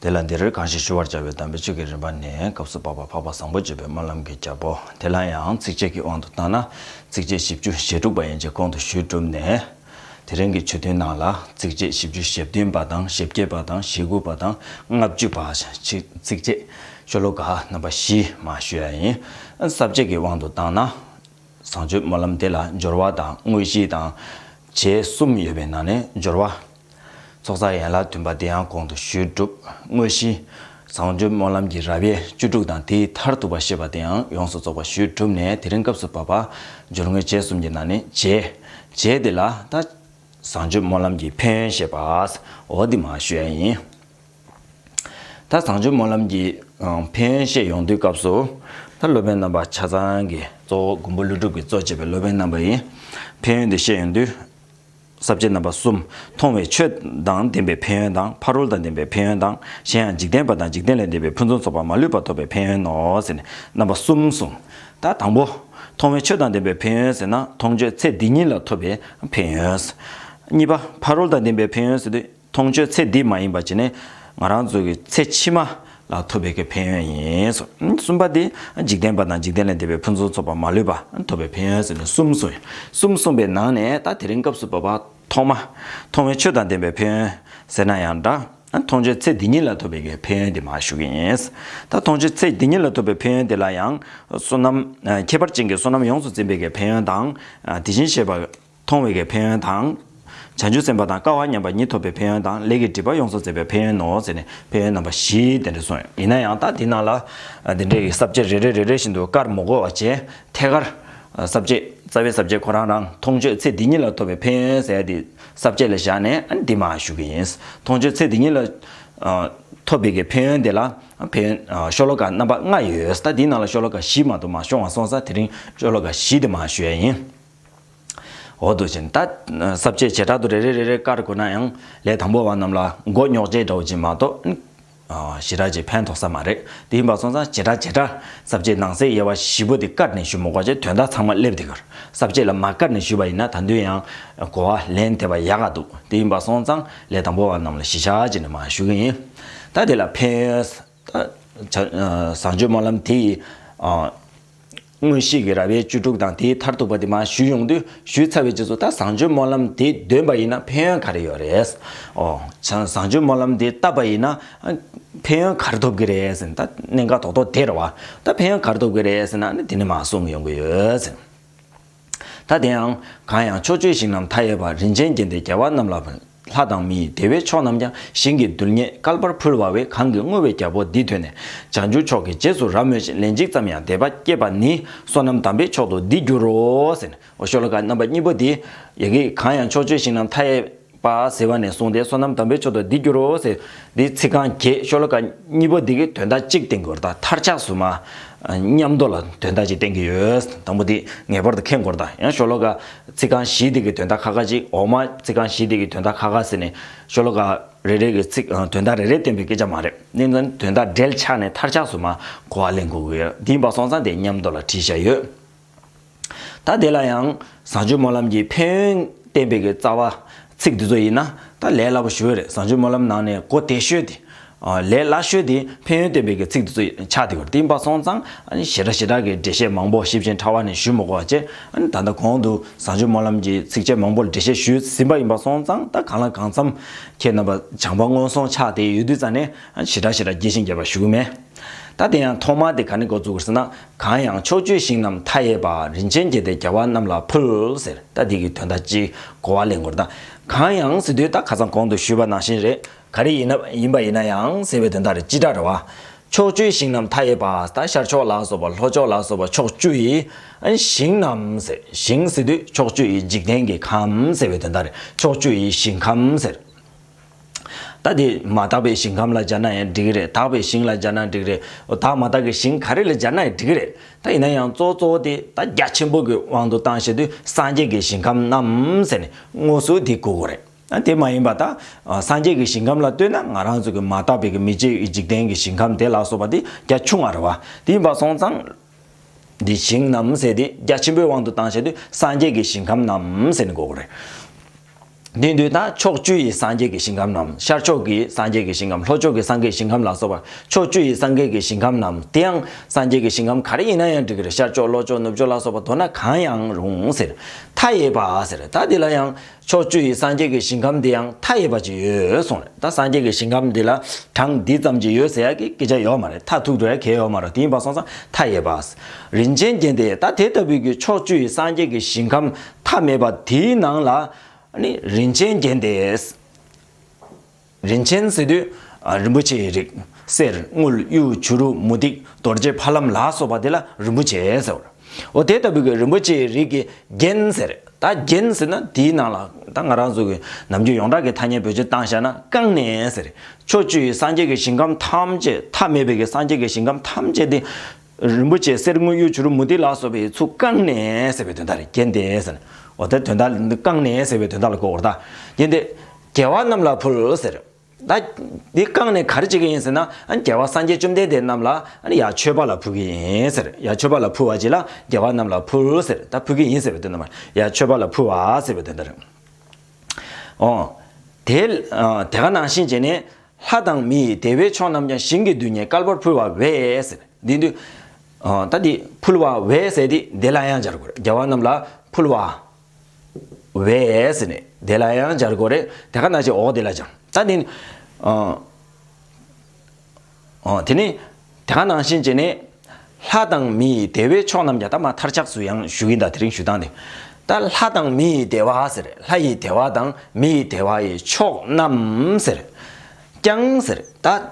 དེ་ལ་འདིར་གང་ཞིག་ཞུ་བར་བྱ་བའི་དམ་པའི་ཆོས་ཀྱི་རིམ་པ་ནི་སྐབས་སུ་བབ་པ་འཕགས་པ་བཟང་པོ་བརྗོད་པའི་སྨོན་ལམ་གྱི་རྒྱལ་པོ་དེ་ལ་ཡང་ཚིགས་བཅད་ཀྱི་དབང་དུ་བཏང་ན་ཚིགས་བཅད་བཞི་བཅུ་ཞེ་དྲུག་པ་ཡན་ཆད་ཁོང་དུ་ཞུས་གྲུབ་ནས། དེ་རིང་གི་ཆོས་ཐུན་ནང་ལ་ཚིགས་བཅད་བཞི་བཅུ་ཞེ་བདུན་པ་དང་ཞེ་བརྒྱད་པ་དང་ཞེ་དགུ་པ་དང་ལྔ་བཅུ་པ་ཚིགས་བཅད་ཤོ་ལོ་ཀ་རྣམ་པ་བཞི་མ་ཞུ་ཡ་ཡིན། ས་བཅད་ཀྱི་དབང་དུ་བཏང་ན། བཟང་སྤྱོད་སྨོན་ལམ་དེ་ལ་སྦྱོར་བ་དང་དངོས་གཞི་དང། བྱད་གསུམ་ཡོད་པའི་ནང་ནས་སྦྱོར་བ། ཚོགས་བསགས་ཡན་ལག་བདུན་པ་འདི་ཡང་གོང་དུ་ཞུས་གྲུབ་དངོས་གཞི། བཟང་སྤྱོད་སྨོན་ལམ་གྱི་རབ་དབྱེ་བཅུ་དྲུག་དང་དེའི་མཐར་ཐུག་པ་ཤེས་པ་དེའང་ཡོངས་སུ་རྫོགས་པ་ཞུས་གྲུབ་ནས་དེ་རིང་སྐབས་སུ་བབ་པ། སྦྱོར་དངོས་རྗེས་གསུམ་གྱི་ནང་ནས་རྗེས། རྗེས་དེ་ལ་ད། བཟང་སྤྱོད་སྨོན་ལམ་གྱི་ཕན་ཡོན་ཞེས་པའོ། འདི་མ་ཞུས་ཡ་ཡིན། ད་བཟང་སྤྱོད་སྨོན་ལམ་གྱི། ཕན་ཡོན་བཤད་ཡོང་དུས་སྐབས་སུ། ད་སློབ་དཔོན་རྣམ་པ་ཆ་ཚང་གི་གཙོ་བོ་མགོན་པོ་ཀླུ་སྒྲུབ་ཀྱི་གཙོ་བྱས་པའི་སློབ་དཔོན་རྣམ་པ་ཡིས། ཕན་ཡོན་འདི་བཤད་ཡོང་དུས། ཟབ་བྱེད་རྣམ་པ་གསུམ། མཐོང་བའི་ཆོས་དང་ལྡན་པའི་ཕན་ཡོན་དང་ཕ་རོལ་དང་ལྡན་པའི་ཕན་ཡོན་དང་གཞན་ཡང་འཇིག་རྟེན་པ་དང་འཇིག་རྟེན་ལས་འདས་པའི་ཕུན་སུམ་ཚོགས་པ་མ་ལུས་པ་ཐོབ་པའི་ཕན་ཡོན་ནོ་ཟེར་ནས་རྣམ་པ་གསུམ་གསུངས། ད་དང་པོ། མཐོང་བའི་ཆོས་དང་ལྡན་པའི་ཕན་ཡོན་ཟེར་ན་མཐོང་ཆོས་ཚེ་འདི་ཉིད་ལ་ཐོབ་པའི་ཕན་ཡོན། གཉིས་པ། ཕ་རོལ་དང་ལྡན་པའི་ཕན་ཡོན་ཟེར་དུས། མཐོང་ཆོས་ཚེ་འདི་མ་ཡིན་པ་ཅི་ནས་ང་རང་ཚོ་གི་ཚེ་ཕྱི་མ་ལ་ཐོབ་པའི་གི་ཕན་ཡོན་ཡིན། གསུམ་པ་དེ་འཇིག་རྟེན་པ་དང་འཇིག་རྟེན་ལས་འདས་པའི་ཕུན་ཚོགས་ཚོགས་པ་མ་ལུས་པ་ཐོབ་པའི་ཕན་ཡོན་ཟེར་ནས་གསུམ་གསུངས། གསུམ་གསུངས་པའི་ནང་ནས་ད་དེ་རིང་སྐབས་སུ་བབས་པ་ཐོག་མ། མཐོང་བའི་ཆོས་དང་ལྡན་པའི་ཕན་ཡོན་ཟེར་ན་ཡང་འདྲ། མཐོང་ཆོས་ཚེ་འདི་ཉིད་ལ་ཐོབ་པའི་གི་ཕན་ཡོན་དེ་མ་ཞུ་གི་ཡིན། ད་མཐོང་ཆོས་ཚེ་འདི་ཉིད་ལ་ཐོབ་པའི་ཕན་ཡོན་དེ་ལ་ཡང། བསོད་ནམས། ཁྱད་པར་ཅན་གྱི་བསོད་ནམས་ཡོངས་སུ་འཛིན་པའི་གི་ཕན་ཡོན་དང། དེ་བཞིན་གཤེགས་པ། མཐོང་བས་ཀྱི་ཕན་ཡོན་དང། བྱང་ཆུབ་སེམས་དཔའ་དང་དཀའ་བ་མཉམ་པ་ཉིད་ཐོབ་པའི་ཕན་ཡོན་དང་ལས་ཀྱི་སྒྲིབ་པ་ཡོངས་སུ་བརྩད་པའི་ཕན་ཡོན་ནོ་ཟེར་ནས་ཕན་ཡོན་རྣམ་པ་བཞི་དེ་འདྲ་གསུངས་ཡོད་ཡིན་ན་ཡང་དག་འདི་རྣམས་ལ། འདི་འདྲའི་གསབ་བྱེད་རེ་རེ་རེ་རེ་བཞིན་དུ་དཀར་མོ་གོ་བ་ཅན་ཐད་ཀར། གསབ་བྱེད་རྩ་བའི་གསབ་བྱེད་ཁོ་རང་རང་མཐོང་ཆོས་ཚེ་འདི་ཉིད་ལ་ཐོབ་པའི་ཕན་ཡོན་ཟེར་དེ་གསབ་བྱེད་ལ་བཞག་ནས་འདི་མ་ཞུ་གི་ཡིན། མཐོང་ཆོས་ཚེ་འདི་ཉིད་ལ། ཐོབ་པས་ཀྱི་ཕན་ཡོན་དེ་ལ་ཕན་ཡོན་ཤོ་ལོ་ཀ་རྣམ་པ་ལྔ་ཡོད་ད་འདི་རྣམས་ལ་ཤོ་ལོ་ཀ་བཞི་མ་དུ་མ་ཤོང་བ་སོང་ས་དེ་རིང་ཤོ་ལོ་ཀ་བཞི་དེ་མ་ཞུ་ཡ་ཡིན། འོག་ཏུ་བྱིན། གསབ་བྱའི་བྱེ་བྲག་ཏུ་རེ་རེ་རེ་རེ་བཀར་དགོས་ན་ཡང་ལས་དང་པོ་བ་རྣམས་ལ་མགོ་རྙོག་ཅེས་འདྲ་བོ་ཅིག་མ་གཏོགས། ཞི་རགས་ཀྱིས་ཕན་ཐོགས་ས་མ་རེད་དེ་ཡིན་པ་སོང་ཙང་བྱེ་བྲག་བྱེ་བྲག་གསབ་བྱའི་ནང་གསེས་དབྱེ་བ་བཞི་པོ་དེ་བཀར་ནས་ཞུ་མི་དགོས་ཀྱི་དོན་དག་ཚང་མ་སླེབས་དེ་གར་གསབ་བྱེད་ལ་མ་བཀར་ནས་ཞུས་པ་ཡིན་ན་ད་དུང་ཡང་གོ་བ་ལེན་ཐེབས་པ་ཡག་ག་འདུག་དེ་ཡིན་པ་སོང་ཙང་ལས་དང་པོ་བ་རྣམས་ལ་ཞི་ཞག་ཅིག་ནས་མ་ཞུ་གི་ཡིན་ད་དེ་ལ་ཕན་ཡོད། བཟང་སྤྱོད་སྨོན་ལམ་དེ་ཡི། སྔོན་གཤེགས་ཀྱི་ར་བའི་བཅུ་དྲུག་དང་དེའི་མཐར་ཐུག་པ་དེ་མ་ཞུས་ཡོང་དུས་ཞུས་ཚར་བའི་རྗེས་སུ་ད་བཟང་སྤྱོད་སྨོན་ལམ་དེ་འདོན་པ་ཡིན་ན་ཕན་ཡོན་ག་རེ་ཡོད་རེད། ཨོ། བྱང་བཟང་སྤྱོད་སྨོན་ལམ་དེ་བཏབ་པ་ཡིན་ན། ཕན་ཡོན་ག་རེ་ཐོབ་ཀྱི་རེད་ཟེར་ན་ད་གནད་འགག་དོག་དོག་དེར་བ། ད་ཕན་ཡོན་ག་རེ་ཐོབ་ཀྱི་རེད་ཟེར་ན་ནི་དེ་ནི་མ་གསུངས་ཡོང་གི་ཡོད། ཐ་དེའང། གང་ཡང་ཕྱོགས་ཆོས་ཞིང་རྣམས་མཐའ་ཡས་པ་རིན་ཆེན་རྒྱན་ཏེ་རྒྱལ་བ་རྣམས་ལ་བར། ལྷ་དང་མི་ཡི་བདེ་བའི་མཆོག་རྣམས་ཀྱང་ཞིང་གི་རྡུལ་སྙེད་བསྐལ་པར་ཕུལ་བ་བས་གང་གི་བསྔོ་བའི་རྒྱལ་པོ་འདི་ཐོས་ནས་བྱང་ཆུབ་མཆོག་གི་རྗེས་སུ་རབ་མོས་ཤིང་ལན་གཅིག་ཙམ་ཡང་དད་པ་བསྐྱེད་པ་ནི་བསོད་ནམས་དམ་པའི་མཆོག་ཏུ་འདི་འགྱུར་རོ། ཤཱཀྱ་ཤློ་ཀ་རྣམ་པ་གཉིས་པོ་འདི། ཡི་གེ་གང་ཡང་ཕྱོགས་ཆོས་ཞིང་རྣམས་མཐའ་ཡས། པ་ཟེར་བ་ནས་བཟུང་སྟེ་བསོད་ནམས་དམ་པའི་མཆོག་ཏུ་འདི་འགྱུར་རོ་ཟེར། འདིའི་ཚིག་རྐང་བརྒྱད་ཤོ་ལོ་ཀ་གཉིས་པོ་འདི་གི་དོན་དག་གཅིག་བསྟན་དགོས་དང་མཐར་ཆགས་སུ་མ། ཉམས་རྟོགས་ལ་དོན་དག་ཅིག་བསྟན་གྱི་ཡོད། དང་པོ་འདི་ངེས་པར་དུ་མཁྱེན་དགོས་དང་ཡང་ཤོ་ལོ་ཀ། ཚིག་རྐང་བཞི་འདི་གི་དོན་དག་ཁ་ཁ་ཅིག་འོག་མ་ཚིག་རྐང་བཞི་འདི་གི་དོན་དག་ཁ་ཁ་ཟེར་ནས། ཤོ་ལོ་ཀ། རེ་རེ་གི་ཚིག་དོན་དག་རེ་རེ་བསྟན་པའི་སྐད་ཆ་མ་རེད། ནི་ནི་དོན་དག་འབྲེལ་ཆགས་ནས་མཐར་ཆགས་སུ་མ་གོ་བ་ལེན་དགོས་ཀྱི་ཡོད། འདིའི་བ་སོང་ཚང་དེ་ཉམས་རྟོགས་ལ་བྲིས་བཞག་ཡོད། ད་དེ་ལ་ཡང་བཟང་སྤྱོད་སྨོན་ལམ་གྱི་ཕན་ཡོན་བསྟན་པའི་རྩ་བ། ཚིག་འདི་ཚོ་ཡིན་ན་ད་ལས་སླ་པོ་ཞུ་བས་རེད་བཟང་སྤྱོད་སྨོན་ལམ་ནང་ནས་གོ་དེ་ཤོད་དེ། ལས་སླ་ཤོད་དེ་ཕན་ཡོན་བསྟན་པའི་ཚིག་འདི་ཚོ་ཆགས་དེ་གོ་དེ་འབའ་སོང་ཙང་ཞེ་དྲག་ཞེ་དྲག་གི་འགྲེལ་བཤད་མང་པོ་ཞིབ་ཅིང་ཕྲ་བ་ནས་ཞུས་མི་གོ་བ་བཅས་ད་ལྟ་གོང་དུ་བཟང་སྤྱོད་སྨོན་ལམ་གྱི་ཚིགས་བཅད་མང་པོ་འགྲེལ་བཤད་ཞུས་ཟིན་པ་ཡིན་པ་སོང་ཙང་ད་གང་ལ་གང་འཚམ་ཁྱེད་རྣམ་པ་སྦྱངས་པ་སྔོན་སོང་ཆགས་དེ་ཡོད་དུས་ཙང་ནས་ཞེ་དྲག་ཞེ་དྲག་རྒྱས་ཤིང་རྒྱས་པ་ཞུ་གི་མེད། ད་དེ་ཡང་ཐོག་མར་དེ་ག་ནས་འགོ་བཙུགས་དགོས་ཟེར་ན་གང་ཡང་ཕྱོགས་བཅུའི་ཞིང་རྣམས་མཐའ་ཡས་པ། རིན་ཆེན་རྒྱས་པའི་རྒྱལ་བ་རྣམས་ལ་ཕུལ། ཟེར་ད་འདི་གི་དོན་དག་ཅི། གོ་བ་ལེན་དགོས་ན། གང་ཡང་ཟེར་དུས་ད་ཁ་ཚང་གོང་དུ་ཞུས་པ་ནང་བཞིན་རེད། ག་རེ་ཡིན་ན་ཡིན་པ་ཡིན་ན་ཡང་ཟེར་བའི་དོན་དག་རེད་སྤྱི་སྒྲ་རེད་བ། ཕྱོགས་བཅུའི་ཞིང་རྣམས་མཐའ་ཡས་པ། ད་ཤར་ཕྱོགས་ལ་སོགས་པ་ལྷོ་ཕྱོགས་ལ་སོགས་པ་ཕྱོགས་བཅུ་ཡི། ཞིང་རྣམས་ཟེར། ཞིང་ཟེར་དུས་ཕྱོགས་བཅུ་ཡི་འཇིག་རྟེན་གྱི་ཁམས་ཟེར་བའི་དོན་དག་རེད་ཕྱོགས་བཅུ་ཡི་ཞིང་ཁམས་ཟེར། རྟ་དེ་མ་དག་པའི་ཞིང་ཁམས་ལ་སྦྱར་ན་ཡང་འགྲིག་རེད་དག་པའི་ཞིང་ལ་སྦྱར་ན་འགྲིག་རེད་དག་མ་དག་གི་ཞིང་ག་རེ་ལ་སྦྱར་ན་ཡང་འགྲིག་རེད་དག་ཡིན་ན་ཡང་གཙོ་བོ་གཙོ་བོ་དེ་རྟ་རྒྱ་ཆེན་པོ་གི་དབང་དུ་བཏང་བྱས་དུས་སངས་རྒྱས་ཀྱི་ཞིང་ཁམས་རྣམས་ཟེར་ནས་སྔོ་སུ་དེ་གོ་གོ་རེད་ཨ་དེ་མ་ཡིན་པ་དག་སངས་རྒྱས་ཀྱི་ཞིང་ཁམས་ལ་ལྟོས་ན་ང་རང་ཚོ་གི་མ་དག་པའི་གི་མི་རྗེ་འཇིག་རྟེན་གྱི་ཞིང་ཁམས་དེ་ལ་སོགས་པ་དེ་རྒྱ་ཆུང་བ་རེད་བ་དེ་ཡིན་པ་སོང་ཙང། འདི་ཞིང་རྣམས་ཟེར་ཏེ་རྒྱ་ཆེན་པོའི་དབང་དུ་བཏང་བྱ་དུས་སངས་རྒྱས་ཀྱི་ཞིང་ཁམས་རྣམས་ཟེར་ནས་འགོག་གོ། རེ་འདུན་དུ་དང་ཕྱོགས་བཅུ་ཡི་སངས་རྒྱས་ཀྱི་ཞིང་ཁམས་རྣམས་ཤར་ཕྱོགས་ཀྱི་སངས་རྒྱས་ཀྱི་ཞིང་ཁམས་ལྷོ་ཕྱོགས་ཀྱི་སངས་རྒྱས་ཞིང་ཁམས་ལ་སོགས་པ་ཕྱོགས་བཅུ་ཡི་སངས་རྒྱས་ཀྱི་ཞིང་ཁམས་རྣམས་དེའང་སངས་རྒྱས་ཀྱི་ཞིང་ཁམས་ག་རེ་ཡིན་ན་ཡང་འགྲིག་གི་ཤར་ཕྱོགས་ལྷོ་ཕྱོགས་ནུབ་ཕྱོགས་ལ་སོགས་པ་མདོར་ན་གང་ཡང་རུང་ཟེར། མཐའ་ཡས་པ་ཟེར་ད་འདི་ལ་ཡང། ཕྱོགས་བཅུ་ཡི་སངས་རྒྱས་ཀྱི་ཞིང་ཁམས་འདི་ཡང་མཐའ་ཡས་པ་ཅིག་ཡོད་གསུངས་རེད་ད་སངས་རྒྱས་ཀྱི་ཞིང་ཁམས་འདི་ལ་གྲངས་འདི་ཙམ་ཅིག་ཡོད་ཟེར་ཡག་གི་སྐད་ཆ་ཡོད་མ་རེད་མཐའ་ཐུག་འགྲོ་ཡག་གལ་ཡོད་མ་རོ་དེ་ཡིན་པ་སོང་ཙང་མཐའ་ཡས་པའ། རིན་ཆེན་རྒྱན་དེ་ད་དེ་ལྟ་བུའི་གི་ཕྱོགས་བཅུ་ཡི་སངས་རྒྱས་ཀྱི་ཞིང་ཁམས་མཐའ་མེད་པ་དེའི་ནང་ལ། ནི་རིན་ཆེན་རྒྱན་དེས། རིན་ཆེན་གསེར་དུད་རིན་པོ་ཆེའི་རིགས། གསེར་དངུལ་གཡུ་བྱུ་རུ་མུ་ཏིག་རྡོ་རྗེ་ཕ་ལམ་ལ་སོགས་པ་དེ་ལ་རིན་པོ་ཆེ་ཟེར་རོ། འོ་དེ་ལྟ་བུ་གི་རིན་པོ་ཆེའི་རིགས་ཀྱི་རྒྱན་ཟེར། ད་རྒྱན་ཟེར་ན་དེའི་ནང་ལ་ད་ང་རང་གཟུགས་ཀྱི་ནམ་རྒྱུན་ཡོངས་གྲགས་ཀྱི་ཐ་སྙད་བོད་སྤྱི་བཏང་བཞག་ན་རྐང་ནས་ཟེར། ཕྱོགས་བཅུའི་སངས་རྒྱས་ཀྱི་ཞིང་ཁམས་ཐམས་ཅད་ཐ་མལ་པའི་གི་སངས་རྒྱས་ཀྱི་ཞིང་ཁམས་ཐམས་ཅད་དེ། རིན་པོ་ཆེ་གསེར་དངུལ་གཡུ་བྱུར་མུ་ཏིག་ལ་སོགས་པའི་ཚུགས་བཀང་ནས་ཟེར་བའི་དོན་དང་རེག་གན་ཏེ། ཟེར། འོ་ད་དོན་དག་འདི་བཀང་ནས་ཟེར་བའི་དོན་དག་ལ་གོ་བར་བལྟ། གན་ཏེ། རྒྱལ་བ་རྣམས་ལ་ཕུལ་ཟེར། ད། འདི་བཀང་ནས་ག་རེ་བྱེད་ཀྱི་ཡིན་ཟེར་ན། རྒྱལ་བ་སངས་རྒྱས་བཅོམ་ལྡན་འདས་རྣམས་ལ་ཡར་མཆོད་པ་ལ་ཕུལ་གྱི་ཡིན་ཟེར། ཡར་མཆོད་པ་ལ་ཕུལ་བ་བྱས་ལ་རྒྱལ་བ་རྣམས་ལ་ཕུལ་ཟེར། ད་ཕུལ་གྱི་ཡིན་ཟེར་བའི་དོན་དང། ཡར་མཆོད་པ་ལ་ཕུལ་བ་ཟེར་བའི་དོན་དང་རེག། འོ། དེ། དེ་ག་ནང་བཞིན་བྱས་ནས། ལྷ་དང་མི་ཡི་དེ་བས་ཆོག་རྣམས་ཀྱང་ཞིང་གི་རྡུལ་སྙེད་སྐལ་པར་ཕུལ་བ་བས། འདི་འདུལ། ད་འདི་ཕུལ་བ་བས་ཟེར་ཏེ་དེ་ལ་ཡང་སྦྱར་དགོས། རྒྱལ་བ་རྣམས་ལ་ཕུལ་བ། བས། དེ་ལ་ཡང་སྦྱར་དགོས། དེ་ཀ་ན་ཅིག་འོག་དེ་ལ་སྦྱང། ད་འདི་འདུལ། དེ་ནི། དེ་ག་ནང་བཞིན་བྱས་ནས། ལྷ་དང་མི་ཡི་བདེ་བའི་ཕྱོགས་རྣམས་ཀྱང་ད་མ་མཐར་ཆགས་སུ་ཡང་ཞུ་གིན་ད་དེ་རིང་ཞུ་སྟངས་དེ། ད་ལྷ་དང་མི་ཡི་བདེ་བ་ཟེར་ལྷ་ཡི་བདེ་བ་དང་མི་ཡི་བདེ་བ་ཡི་ཕྱོགས་རྣམས་ཟེར། ཀྱང་ཟེར་ད།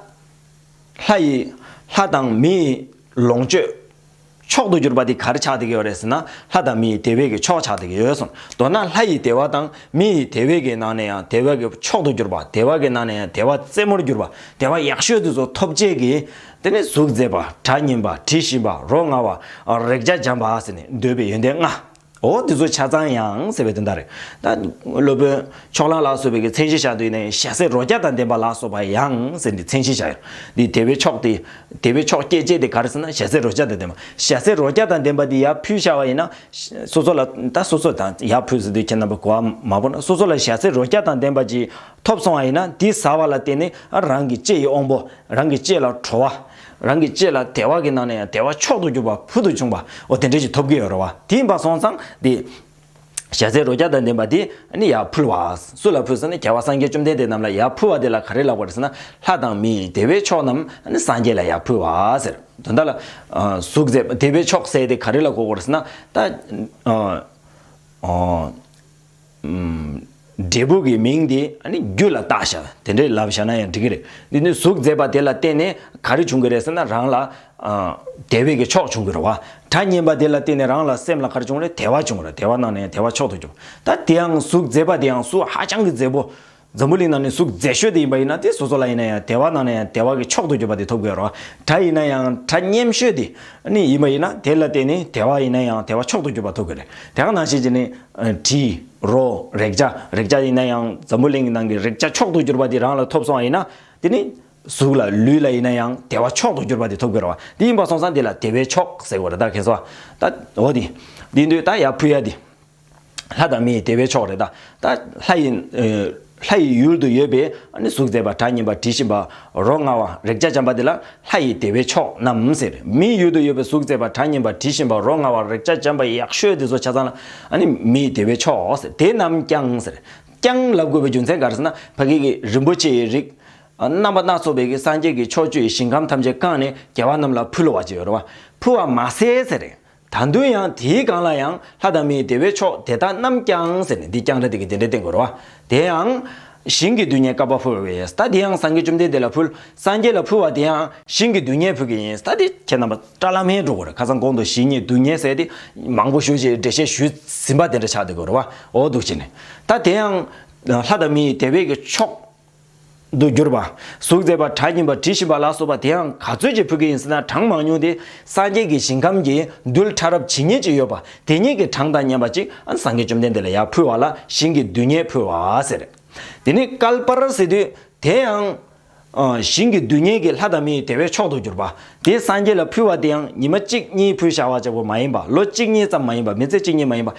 ལྷ་ཡི། ལྷ་དང་མི་ཡི་ལོངས་སྤྱོད། མཆོག་ཏུ་གྱུར་པ་འདི་གར་ཆགས་བསྡད་ཀྱི་ཡོད་རེད་ཟེར་ན་ལྷ་དང་མི་ཡི་དེ་བས་ཀྱི་མཆོག་ཆགས་བསྡད་ཀྱི་ཡོད་གསུངས། མདོར་ན་ལྷ་ཡི་དེ་བ་དང་མི་ཡི་དེ་བས་ཀྱི་ནང་ནས་ཡང་དེ་བ་གི་མཆོག་ཏུ་གྱུར་པ་དེ་བ་གི་ནང་ནས་ཡང་དེ་བ་རྩེ་མོར་གྱུར་པ་དེ་བ་ཡག་ཤོས་དེ་ཚོ་ཐོབ་བྱེད་ཀྱི། དེ་ནི་གཟུགས་མཛེས་པ་དགྲ་གཉེན་པ་དྲི་ཞིམ་པ་རོ་མངར་བ། རེག་བྱ་འཇམ་པ་ཟེར་ནས་འདོད་པའི་ཡོན་ཏན་ལྔ། འོ་དེ་ཚོ་ཆ་ཚང་ཡང་ཟེར་བའི་དོན་དག་རེད། ད་སློབ་དཔོན་ཕྱོགས་གླང་ལགས་སོ་བའི་གི་མཚན་གཞི་བཞག་འདུག་ནས་ཞྭ་སེར་རོ་བརྒྱ་དང་ལྡན་པ་ལགས་སོ་བ་ཡང་ཟེར་འདི་མཚན་གཞི་བཞག་ཡོད། འདི་དེ་བའི་ཕྱོགས་དེ། དེ་བའི་ཕྱོགས་སྐད་ཅེས་དེ་ག་རེ་ཟེར་ན་ཞྭ་སེར་རོ་བརྒྱ་དང་ལྡན་པ། ཞྭ་སེར་རོ་བརྒྱ་དང་ལྡན་པ་འདི་ཡར་ཕུལ་བཞག་པ་ཡིན་ན། སོ་སོ་ལ་ད་སོ་སོ་དང་ཡར་ཕུལ་ཟེར་དུས་ཁྱེད་རྣམ་པ་གོ་བ་མ་བོར་ན་སོ་སོ་ལ་ཞྭ་སེར་རོ་བརྒྱ་དང་ལྡན་པ་ཅིག་ཐོབ་སོང་བ་ཡིན་ན་དེ་ཟ་བ་ལ་བརྟེན་ནས་རང་གི་ལྕེ་ཡི་དབང་པོ་རང་གི་ལྕེ་ལ་བྲོ་བ། རང་གི་ལྕེ་ལ་དལ་བ་གི་ནང་ནས་ཡང་དལ་བ་མཆོག་ཏུ་གྱུར་པ་བུ་དུ་བྱུང་བ་འོ་དེ་འདྲའི་ཞིག་ཐོབ་གི་ཡོད་རེད་བ་དེའི་འབའ་སོང་ཙང་དེ། ཞལ་ཟས་རོ་བརྒྱ་དང་ལྡན་པ་དེ་ནི་ཡར་ཕུལ་བ། སུ་ལ་ཕུལ་ཟེར་ན་རྒྱལ་བ་སངས་རྒྱས་བཅོམ་ལྡན་འདས་རྣམས་ལ་ཡར་ཕུལ་བ་དེ་ལ་ག་རེ་ལགས་པ་རེད་ཟེར་ན་ལྷ་དང་མི་དེ་བས་མཆོག་རྣམས་སངས་རྒྱས་ལ་ཡར་ཕུལ་བ་ཟེར། དོན་དག་ལ། གཟུགས་མཛེས་པ་དེ་བས་མཆོག་ཟས་དེ་ག་རེ་ལ་གོ་དགོས་རེད་ཟེར་ན། ད། འབྲས་བུ་གི་མིང་དེ་རྒྱུད་ལ་བཏགས་ཤག་དེ་འདྲའི་ལབ་བཞག་ན་ཡང་འགྲིག་གི་རེད། འདི་ནི་གཟུགས་མཛེས་པ་དེ་ལ་བརྟེན་ནས་ག་རེ་བྱུང་གི་རེད་ཟེར་ན་རང་ལ། དེ་བས་ཀྱི་ཕྱོགས་བྱུང་གི་རེད། བ་གྲ་སྙན་པ་དེ་ལ་བརྟེན་ནས་རང་ལ་སེམས་ལ་ག་རེ་བྱུང་རེད་དད་བ་བྱུང་རེད་དད་བ་གནང་ན་ཡང་དད་བ་མཆོག་ཏུ་འགྱུར། ད་དེའང་གཟུགས་མཛེས་པ་དེའང་གཟུགས་ཧ་ཅང་གི་མཛེས་པོ། འཛམ་བུ་གླིང་ནང་ནས་གཟུགས་མཛེས་ཤོས་དེ་ཡིན་པ་ཡིན་ན་དེ་སོ་སོ་ལ་ཡིན་ན་ཡང་དལ་བ་ནང་ནས་ཡང་དལ་བ་གི་མཆོག་ཏུ་གྱུར་པ་དེ་ཐོབ་དགོས་རོ། གྲྭ་ཡིན་ན་ཡང་གྲྭ་སྙེམས་ཤོས་དེ་ནི་ཡིན་པ་ཡིན་ན་དེ་ལ་བརྟེན་ནས་དལ་བ་ཡིན་ན་ཡང་དལ་བ་མཆོག་ཏུ་གྱུར་པ་ཐོབ་དགོས་རེད། དེ་གང་ནང་བཞིན་གྱི་ནི། དྲི། རོ། རེག་བྱ། རེག་བྱ་ཡིན་ན་ཡང་འཛམ་བུ་གླིང་གི་ནང་གི་རེག་བྱ་མཆོག་ཏུ་གྱུར་པ་དེ་རང་ལ་ཐོབ་སོང་བ་ཡིན་ན། དེ་ནི། གཟུགས་ལ་ལུས་ལ་ཡིན་ན་ཡང་དལ་བ་མཆོག་ཏུ་གྱུར་པ་དེ་ཐོབ་དགོས་རོ། དེ་ཡིན་པ་སོང་ཙང་དེ་ལ་དལ་བའི་མཆོག་ཟེར་དགོས་རེད་ད་གན་སོ། ད་འོ་དེ། དེ་དུས་ད་ཡ་ཕུ་ཡ་དེ། ལྷ་དང་མི་ཡི་བདེ་བའི་མཆོག་རེད་ད། ལྷ་ཡི། ལྷ་ཡི་ཡུལ་དུ་ཡོད་པའི་གཟུགས་མཛེས་པ་གྲགས་སྙན་པ་དྲི་ཞིམ་པ། རོ་མངར་བ་རེག་བྱ་འཇམ་པ་དེ་ལ་ལྷ་ཡི་བདེ་བའི་མཆོག་རྣམས་ཟེར། མིའི་ཡུལ་དུ་ཡོད་པའི་གཟུགས་མཛེས་པ་གྲགས་སྙན་པ་དྲི་ཞིམ་པ་རོ་མངར་བ་རེག་བྱ་འཇམ་པ་ཡག་ཤོས་དེ་ཚོ་ཆ་ཚང་ལ། མི་ཡི་བདེ་བའི་མཆོག་ཟེར་དེ་རྣམས་ཀྱང་ཟེར། ཀྱང་ལབ་དགོས་པའི་རྒྱུ་མཚན་ག་རེ་ཟེར་ན་ཕ་གི་གི་རིན་པོ་ཆེའི་རིགས། རྣམ་པ་སྣ་ཚོགས་པའི་གི་སངས་རྒྱས་ཀྱི་ཕྱོགས་བཅུའི་ཞིང་ཁམས་ཐམས་ཅད་བཀང་ནས་རྒྱལ་བ་རྣམས་ལ་ཕུལ་བ་ཅི་ཡོད་རེད་བ། ཕུལ་བ་མ་ཟད་ཟེར། ད་དུང་ཡང་དེའི་སྒང་ལ་ཡང་ལྷ་དང་མིའི་བདེ་བའི་མཆོག་དེ་དག་རྣམས་ཀྱང་ཟེར་ནས་འདི་རྐྱང་ར་དེ་གི་དེ་འདྲའི་སྟེང་དགོད་རོ། དེ་ཡང། ཞིང་གི་རྡུལ་སྙེད་བསྐལ་པ་འཕུལ་བ་ཡིན་སྟ་དེ་ཡང་སངས་རྒྱས་བཅོམ་ལྡན་འདས་ལ་འཕུལ། སངས་རྒྱས་ལ་འཕུལ་བ་དེ་ཡང། ཞིང་གི་རྡུལ་སྙེད་འཕུལ་གྱི་ཡིན་སྟ་དེ་ཁྱེད་རྣམ་པ་བཀྲ་ལྷ་མིའི་འགྲོ་ཀུན་རེ་ཁ་སང་གོང་དུ་ཞིང་གཉིས་རྡུལ་སྙེད་ཟེར་ཏེ། མང་པོ་ཞུ་ཞེས་འགྲེལ་བཤད་ཞུས་ཟིན་པ་དེ་འདྲ་ཆགས་ཏེ་དགོད་རོ། འོ་འདུག་བྱས་ནས། ད་དེ་ཡང། ལྷ་དང་མིའི་བདེ་བའི་གི་མཆོག། དུ་གྱུར་པ། གཟུགས་མཛེས་པ་གྲ་སྙིམ་པ་དྲི་ཞིམ་པ་ལ་སོགས་པ་དེའང་ག་ཚོད་ཀྱིས་ཕུལ་གྱི་ཡིན་ཟེར་ན་གྲངས་མང་ཉུང་དེ་སངས་རྒྱས་ཀྱི་ཞིང་ཁམས་ཀྱི་རྡུལ་ཕྲ་རབ་ཇི་སྙེད་ཅིག་ཡོད་པ་དེ་སྙེད་ཀྱི་གྲངས་དང་མཉམ་པ་ཅིག་ཨ་སངས་རྒྱས་བཅོམ་ལྡན་འདས་ལ་ཡང་ཕུལ་བ་ལ་ཞིང་གི་རྡུལ་སྙེད་ཕུལ་བ་ཟེར། དེ་ནི་ཀལ་པར་ཟེར་དུས་དེའང། ཞིང་གི་རྡུལ་སྙེད་ཀྱི་ལྷ་དང་མིའི་དེ་བས་མཆོག་ཏུ་གྱུར་པ། དེ་སངས་རྒྱས་ལ་ཕུལ་བ་དེའང་ཉི་མ་གཅིག་གཉིས་ཕུལ་བྱ་བ་བྱེད་པོ་མ་ཡིན་པ་ལོ་གཅིག་གཉིས་ཙམ་མ་ཡིན་པ་མི་ཚེ་གཅིག་གཉིས་མ་ཡིན་པ།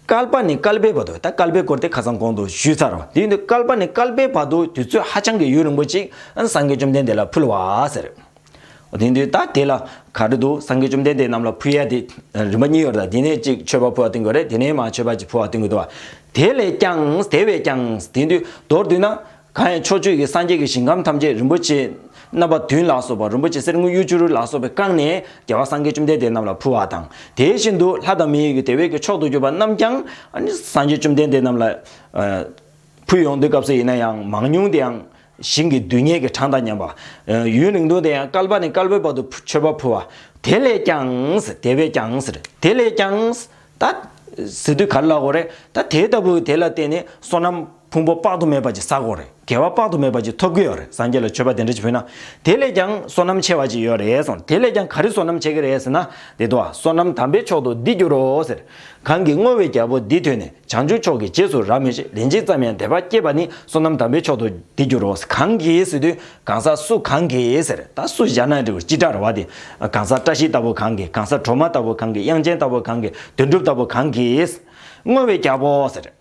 སྐལ་པ་ནི་སྐལ་པའི་བར་དུ་ད་སྐལ་པའི་སྐོར་དེ་ཁ་སང་གོང་དུ་ཞུས་ཚར་བ་དེ་ཡིན་དུས་སྐལ་པ་ནི་སྐལ་པའི་བར་དུ་དུས་ཚོད་ཧ་ཅང་གི་ཡུན་རིང་པོ་ཅིག་སངས་རྒྱས་བཅོམ་ལྡན་འདས་ལ་ཕུལ་བ་ཟེར། དེ་ཡིན་དུས་ད་དེ་ལ་ག་རེ་འདུག་སངས་རྒྱས་བཅོམ་ལྡན་འདས་རྣམས་ལ་ཕུལ་ཡ་དེ་རིམ་པ་གཉིས་ཡོད་རེད་དེ་ནས་གཅིག་མཆོད་པ་ཕུལ་བ་བཏོན་དགོས་རེད་དེ་ནས་མ་མཆོད་པ་གཅིག་ཕུལ་བ་བཏོན་དགོས་འདུག་བ། དེ་ལས་ཀྱང་དེ་བས་ཀྱང་དེ་ཡིན་དུས་མདོར་བསྡུས་ན་གང་ཡང་ཕྱོགས་བཅུ་ཡི་སངས་རྒྱས་ཀྱི་ཞིང་ཁམས་ཐམས་ཅད་རིན་པོ་ཆེ་རྣམ་པ་བདུན་ལ་སོགས་པ་རིན་པོ་ཆེ་གསེར་དངུལ་གཡུ་བྱུ་རུ་ལ་སོགས་པས་བཀང་ནས་རྒྱལ་བ་སངས་རྒྱས་བཅོམ་ལྡན་འདས་རྣམས་ལ་ཕུལ་བ་དང། དེ་བཞིན་དུ་ལྷ་དང་མིའི་ཡུལ་དེ་བས་ཀྱི་མཆོག་ཏུ་གྱུར་པ་རྣམས་ཀྱང། སངས་རྒྱས་བཅོམ་ལྡན་འདས་རྣམས་ལ། ཕུལ། ཡོངས་འདུའི་སྐབས་སུ་ཡིན་ན་ཡང་མང་ཉུང་དེ་ཡང། ཞིང་གི་རྡུལ་སྙེད་ཀྱི་གྲངས་དང་མཉམ་པ། ཡུན་རིང་ཐུང་དེ་ཡང་བསྐལ་པ་ནས་བསྐལ་པའི་བར་དུ་མཆོད་པ་ཕུལ་བ། དེ་ལས་ཀྱང། དེ་བས་ཀྱང། དེ་ལས་ཀྱང། ད། ཟེར་དུས་ག་ལ་ལ་གོ་རེ། ད་དེ་ལྟ་བུ་དེ་ལ་བརྟེན་ནས་བསོད་ནམས། ཕུང་པོ་དཔག་ཏུ་མེད་པ་ཅིག་ཟ་དགོས་རེད་དགེ་བ་དཔག་ཏུ་མེད་པ་ཅིག་ཐོབ་ཀྱི་ཡོད་རེད་སངས་རྒྱས་ལ་མཆོད་པ་དེ་འདྲ་ཅིག་ཕུལ་ན་དེ་ལས་ཀྱང་བསོད་ནམས་ཆེ་བ་ཅིག་ཡོད་རེད་གསུངས་དེ་ལས་ཀྱང་ག་རེ་བསོད་ནམས་ཆེ་གི་རེད་ཟེར་ན་འདི་ལྟོས་བསོད་ནམས་དམ་པའི་མཆོག་ཏུ་འདི་འགྱུར་རོ་ཟེར་གང་གིས་བསྔོ་བའི་རྒྱལ་པོ་འདི་ཐོས་ནས་བྱང་ཆུབ་མཆོག་གི་རྗེས་སུ་རབ་མོས་ཤིག་ལན་གཅིག་ཙམ་ཡང་དད་པ་སྐྱེས་པ་ནི་བསོད་ནམས་དམ་པའི་མཆོག་ཏུ་འདི་འགྱུར་རོ་ཟེར་གང་གིས་ཟེར་དུས་གང་ཟག་སུ་གང་གིས་ཟེར་ད་སུ་བཞག་ན་འགྲིག་སྤྱི་དགྲར་བ་དེ་གང་ཟག་བཀྲ་ཤིས་ལྟ་བུ་གང་གིས་གང་ཟག་གྲོ་མ་ལྟ་བུ་གང་གིས་དབྱངས་ཅན་ལྟ་བུ་གང་གིས་དོན་གྲུབ་ལྟ་བུ་གང་གིས་བསྔོ་བའི་རྒྱལ་པོ་ཟེར།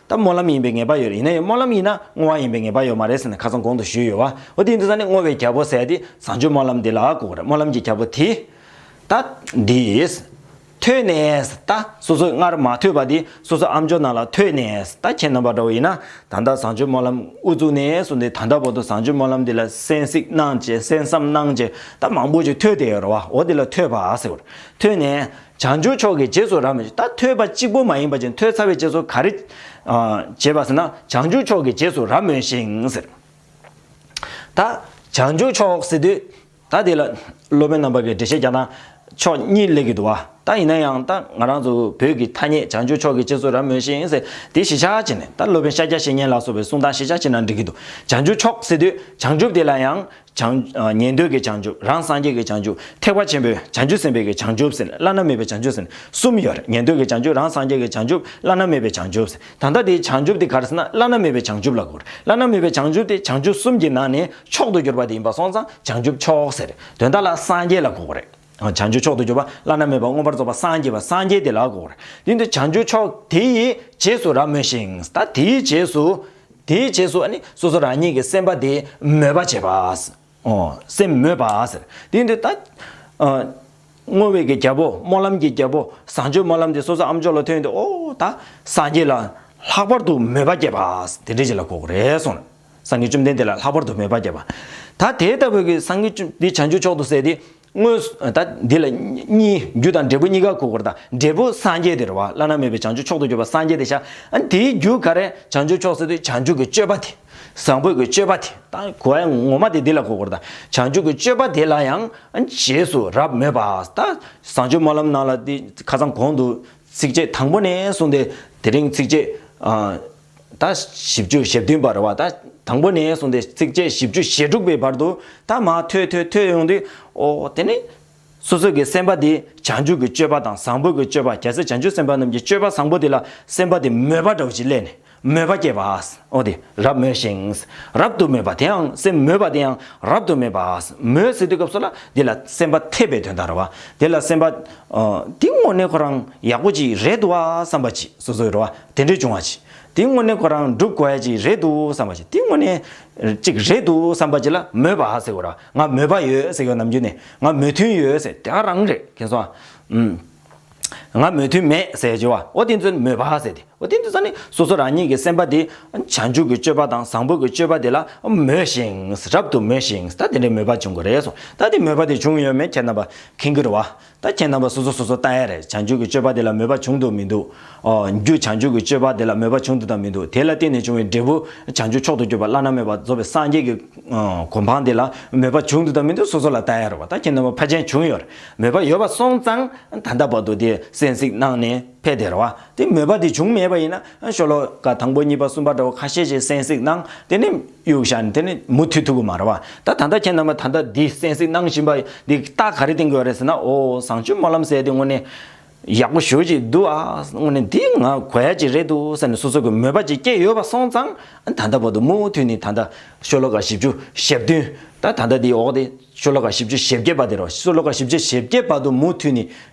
ད་སྨོན་ལམ་ཡིན་པའི་ངེས་པ་ཡོད་རེད་ཡིན་ན་ཡང་སྨོན་ལམ་ཡིན་ན་བསྔོ་བ་ཡིན་པའི་ངེས་པ་ཡོད་མ་རེད་ཟེར་ནས་ཁ་ཚང་གོང་དུ་བཞུད་ཡོད་བ་འོ་དེ་འདི་ད་ནི་བསྔོ་བའི་རྒྱལ་པོ་ཟེར་དེ་བཟང་སྤྱོད་སྨོན་ལམ་འདི་ལ་གོ་གི་རེད་སྨོན་ལམ་གྱི་རྒྱལ་པོ་དེ། ད། འདིས། ཐོས་ནས། ད་སོ་སོས་སྔར་མ་ཐོས་པ་དེ་སོ་སོ་ཨམ་ཅོག་རྣམས་ལ་ཐོས་ནས། ད་ཁྱེད་རྣམ་པ་འདྲ་བོ་ཡིན་ན་ད་ལྟ་བཟང་སྤྱོད་སྨོན་ལམ་དབུ་བཙུགས་ནས་སོ་འདི་ད་ལྟ་བར་དུ་བཟང་སྤྱོད་སྨོན་ལམ་འདི་ལ་གསན་གཟིགས་གནང་བྱས་གསན་བསམ་གནང་བྱས་ད་མང་པོ་ཞིག་ཐོས་དེ་ཡོད་རེད་བ་འོ་འདི་ལ་ཐོས་པ་ཟེར། ཐོས་ནས། བྱང་ཆུབ་མཆོག་གི་རྗེས་སུ་རབ་མོས། ད་ཐོས་པ་གཅིག་པོ་མ་ཡིན་པ་ཅན་ཐོས་ཚར་བའི་རྗེས་སུ་ག་རེ་བྱེད་པ་ཟེར་ན། བྱང་ཆུབ་མཆོག་གི་རྗེས་སུ་རབ་མོས་ཤིང་ཟེར། ད་བྱང་ཆུབ་མཆོག་ཟེར་དུས། ད་དེ་ལ་སློབ་དཔོན་རྣམ་པ་གིས་འགྲེལ་བཤད་རྒྱག་ན་ཕྱོགས་གཉིས་ལེགས་ཀྱི་འདུག་བ། ད་ཡིན་ན་ཡང་ད་ང་རང་ཚོ་བོད་ཀྱི་ཐ་སྙད་བྱང་ཆུབ་མཆོག་གི་རྗེས་སུ་རབ་མོས་ཤིང་ཟེར་དེ་གཞི་ཆགས་བྱས་ནས་ད་སློབ་དཔོན་ཤཱཀྱ་བཤེས་གཉེན་ལགས་སོ་བའི་གསུང་སྟངས་གཞི་ཆགས་བྱས་ན་འགྲིག་གི་འདུག་བྱང་ཆུབ་མཆོག་ཟེར་དུས་བྱང་ཆུབ་དེ་ལ་ཡང་བྱང། ཉན་ཐོས་ཀྱི་བྱང་ཆུབ་རང་སངས་རྒྱས་ཀྱི་བྱང་ཆུབ་ཐེག་པ་ཆེན་པོའི་བྱང་ཆུབ་སེམས་དཔའི་བྱང་ཆུབ་ཟེར་བླ་ན་མེད་པའི་བྱང་ཆུབ་ཟེར་གསུམ་ཡོད་རེད་ཉན་ཐོས་ཀྱི་བྱང་ཆུབ་རང་སངས་རྒྱས་ཀྱི་བྱང་ཆུབ་བླ་ན་མེད་པའི་བྱང་ཆུབ་ཟེར་ད་ལྟ་དེའི་བྱང་ཆུབ་དེ་གར་ཟེར་ན་བླ་ན་མེད་པའི་བྱང་ཆུབ་ལ་གོ་རེད་བླ་ན་མེད་པའི་བྱང་ཆུབ་དེ་བྱང་ཆུབ་གསུམ་གྱི་ནང་ནས་མཆོག་ཏུ་གྱུར་པ་དེ་ཡིན་པ་སོང་ཙང་བྱང་ཆུབ་མཆོག་ཟེར་རེད་དོན་དག་ལ་སངས་རྒྱས་ལ་གོ་གོ་རེད། བྱང་ཆུབ་མཆོག་ཏུ་གྱུར་པ་བླ་ན་མེད་པ་མངོན་པར་རྫོགས་པ་སངས་རྒྱས་པ་སངས་རྒྱས་དེ་ལགས་སོ། དེ་ནི་བྱང་ཆུབ་མཆོག་དེ་ཡི་རྗེས་སུ་རབ་མོས་ཤིང། ད་དེའི་རྗེས་སུ། དེའི་རྗེས་སུ་ནི་སོ་སོ་རང་ཉིད་ཀྱི་སེམས་དཔའ་དེ་མོས་པ་བྱེད་པ། སེམས་མོས་པ། དེ་འདི་ལྟ་སྟེ། བསྔོ་བའི་གྱི་རྒྱལ་པོ་སྨོན་ལམ་གྱི་རྒྱལ་པོ་བཟང་སྤྱོད་སྨོན་ལམ་དེ་སོ་སོ་ཨ་མཆོག་ལ་ཐོས་ཏེ་ཨོ། ད་སངས་རྒྱས་ལ། ལྷག་པར་དུ་མོས་པ་བསྐྱེད་པ། དེ་འདྲའི་རྗེས་ལ་གོ་རེ་ཟུང། སངས་རྒྱས་བཅོམ་ལྡན་འདས་ལ་ལྷག་པར་དུ་མོས་པ་བསྐྱེད་པ། ད་དེ་ལྟ་བུ་གི་སངས་རྒྱས་བཅོམ་འདི་བྱང་ཆུབ་མཆོག་ཏུ་ཟད་དེ། དངོས་སུ་ད་འདི་ལ་གཉིས་རྒྱུ་དང་འབྲས་བུ་གཉིས་ཀ་གོ་དགོས་དང་འབྲས་བུ་སངས་རྒྱས་དེ་རེ་བ་བླ་ན་མེད་པའི་བྱང་ཆུབ་མཆོག་ཏུ་གྱུར་པ་སངས་རྒྱས་དེ་ཤ་ཨ་དེའི་རྒྱུ་ག་རེ་བྱང་ཆུབ་མཆོག་ཟད་དེ་བྱང་ཆུབ་ཀྱི་སྤྱོད་པ་དེ། བཟང་པོའི་གྱི་སྤྱོད་པ་དེ་དང་གོ་ཨེ་ངོ་མ་དེ་འདི་ལ་གོ་དགོས་དང་བྱང་ཆུབ་ཀྱི་སྤྱོད་པ་དེ་ལ་ཡང་རྗེས་སུ་རབ་མོས་པ་ད་བཟང་སྤྱོད་སྨོན་ལམ་ནང་ལ་དེ་ཁ་ཚང་གོང་དུ་ཚིགས་བཅད་དང་པོ་ནས་གསུངས་ཏེ་དེ་རིང་ཚིགས་བཅད་ཨ། ད་བཞི་བཅུ་ཞེ་བདུན་བར་བ་ད་དང་པོ་ནས་གསུངས་ཏེ་ཚིགས་བཅད་བཞི་བཅུ་ཞེ་དྲུག་པའི་བར་དུ་ད་མ་ཐོས་ཐོས་ཐོས་ཡོང་དུས་ཨོ་དེ་ནི། སོ་སོ་གི་སེམས་པ་དེ་བྱང་ཆུབ་ཀྱི་སྤྱོད་པ་དང་བཟང་པོ་གི་སྤྱོད་པ་གལ་སྲིད་བྱང་ཆུབ་སེམས་དཔའ་རྣམས་ཀྱི་སྤྱོད་པ་བཟང་པོ་དེ་ལ་སེམས་པ་དེ་མོས་པ་དགྲ་བོ་ཅིག་སླད་ནས་མོས་པ་སྐྱེས་པ་ཨོ་དེ་རབ་མོས་ཤིང་རབ་ཏུ་མོས་པ་དེའང་སེམས་མོས་པ་དེའང་རབ་ཏུ་མོས་པ་མོས་ཟེར་དུས་སྐབས་སུ་ལ་དེ་ལ་སེམས་པ་འཐད་པའི་དོན་དང་ར་བ་དེ་ལ་སེམས་པ། དེ་དངོས་གནས་ཁོ་རང་ཡག་པོ་ཅིག་རེད་འདུག་བསམ་པ་ཅིག་སོ་སོའི་ར་བ་དེ་འདྲས་བྱུང་བ་ཅིག་དེའི་དངོས་གནས་ཁོ་རང་འགྲུབ་དགོས་ཅིག་རེད་འདུག་བསམ་པ་ཅིག་དེའི་དངོས་གནས་ཅིག་རེད་འདུག་བསམ་པ་ཅིག་ལ་མོས་པ་ཟེར་བར་ང་མོས་པ་ཡོད་ཟེར་གི་ནམ་རྒྱུན་ནས་ང་མོས་མཐུན་ཡོད་ཟེར་དེ་ག་རང་རེད་ཁེ་སོང་ཨང། ང་མོས་མཐུན་མེད་ཟེར་བྱས་བ་ཨོ་དེ་ཚོས་མོས་པ་ཟེར་དེ་ཨོ་དེ་ཚོ་ནི་སོ་སོ་རང་ཉིད་ཀྱི་སེམས་པ་དེ་བྱང་ཆུབ་ཀྱི་སྤྱོད་པ་དང་བཟང་པོ་ཀྱི་སྤྱོད་པ་དེ་ལ་མོས་ཤིང་རབ་ཏུ་མོས་ཤིང་ད་དེ་འདྲས་མོས་པ་བྱུང་གི་རེད་སོང་ད་དེ་མོས་པ་དེ་བྱུང་ཡོད་མེད་ཁྱེད་རྣམ་པ་མཁྱེན་གྱི་རེད་བ། ད་ཁྱེད་རྣམ་པ་སོ་སོ་སོ་སོ་ལྟ་ཡ་རེད་བྱང་ཆུབ་ཀྱི་སྤྱོད་པ་དེ་ལ་མོས་པ་བྱུང་འདུག་མི་འདུག་ཨོ། རྒྱུ་བྱང་ཆུབ་ཀྱི་སྤྱོད་པ་དེ་ལ་མོས་པ་བྱུང་འདུག་དང་མི་འདུག་དེ་ལ་བརྟེན་ནས་བྱུང་བའི་འབྲས་བུ་བྱང་ཆུབ་མཆོག་ཏུ་གྱུར་པ་བླ་ན་མེད་པ་རྫོགས་པའི་སངས་རྒྱས་ཀྱི། གོ་འཕང་དེ་ལ་མོས་པ་བྱུང་འདུག་དང་མི་འདུག་སོ་སོ་ལ་ལྟ་ཡ་རེད་བ་ད་ཁྱེད་རྣམ་པ་ཕ་ཅན་བྱུང་ཡོད་མོས་པ་ཡོད་པ་སོང་ཙང་ད་ལྟ་བར་དུ་དེ་སེམས་གཟིགས་གནང་ནས་ཕེ་དེ་རེད་བ་དེ་མོས་པ་དེ་བྱུང་མེད་པ་ཡིན་ན་ཤོ་ལོ་ཀ་དང་པོ་གཉིས་པ་གསུམ་པ་འདྲ་བོ་ཁ་ཤས་ཤིག་སེམས་གཟིགས་གནང་དེ་ནས། གཡུག་བཞག་དེ་ནི་མུ་མཐུད་ཐུག་གི་མ་རེད་བ། ད་ད་ལྟ་ཁྱེད་རྣམ་པ་ད་ལྟ་འདི་གསན་གཟིགས་གནང་བཞིན་པ་འདི་རྟགས་ག་རེ་བསྟན་དགོས་རེད་ཟེར་ན་ཨོ་བཟང་སྤྱོད་སྨོན་ལམ་གསལ་དེ་དངོས་གནས་ཡག་པོ་ཞུ་ཅིག་འདུག་ཨ་དངོས་གནས་འདི་ང་གོ་ཡ་ཅིག་རེད་འདུག་ཟེར་ནས་སོ་སོ་གི་མོས་པ་ཅིག་སྐྱེས་ཡོད་པ་སོང་ཙང་ད་ལྟ་བར་དུ་མུ་མཐུད་ནི་ད་ལྟ་ཤོ་ལོ་ཀ་བཞི་བཅུ་ཞེ་བདུན། ད་ད་ལྟ་འདི་འོག་དེ་ཤོ་ལོ་ཀ་བཞི་བཅུ་ཞེ་བརྒྱད་པ་དེ་རོ་ཤོ་ལོ་ཀ་བཞི་བཅུ་ཞེ་བརྒྱད་པ་དུ་མུ་མཐུད་ནི་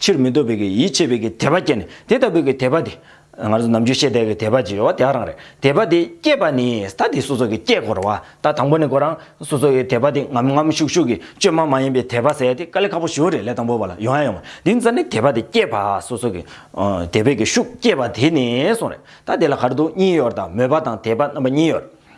ཕྱིར་མི་ལྡོག་པའི་གིས་ཡིད་ཆེས་པའི་གིས་དད་པ་བསྐྱེད་ནས་དེ་ལྟ་བུའི་གིས་དད་པ་དེ། ང་ཚོ་ནམ་རྒྱུན་ཤེས་དད་གིས་དད་པ་ཅེས་བྱ་བ་དེའང་རང་རེད། དད་པ་དེ་བསྐྱེད་པ་ནི་ད་དེ་སོ་སོ་གིས་བསྐྱེད་དགོས་ར་བ་ད་དང་པོ་ནས་དགོས་རང་སོ་སོ་གིས་དད་པ་དེ་ངམ་ངམ་ཤུགས་ཤུགས་གིས་བཅོས་མ་མ་ཡིན་པའི་དད་པ་ཟེར་ཡ་དེ་དཀའ་ལས་ཁག་པོ་ཞིག་རེད་ལས་དང་པོ་བ་ལ་ཡོང་ཡ་ཡོང་མ་དེ་མཚར་ནི་དད་པ་དེ་བསྐྱེད་པ་སོ་སོ་གིས། དད་པའི་གིས་ཤུགས་བསྐྱེད་པ་དེ་ནས་སོང་རེད་ད་དེ་ལ་གར་འདུག་གཉིས་ཡོར་དང་མོས་པ་དང་དད་པ་རྣམ་པ་གཉིས་ཡོར།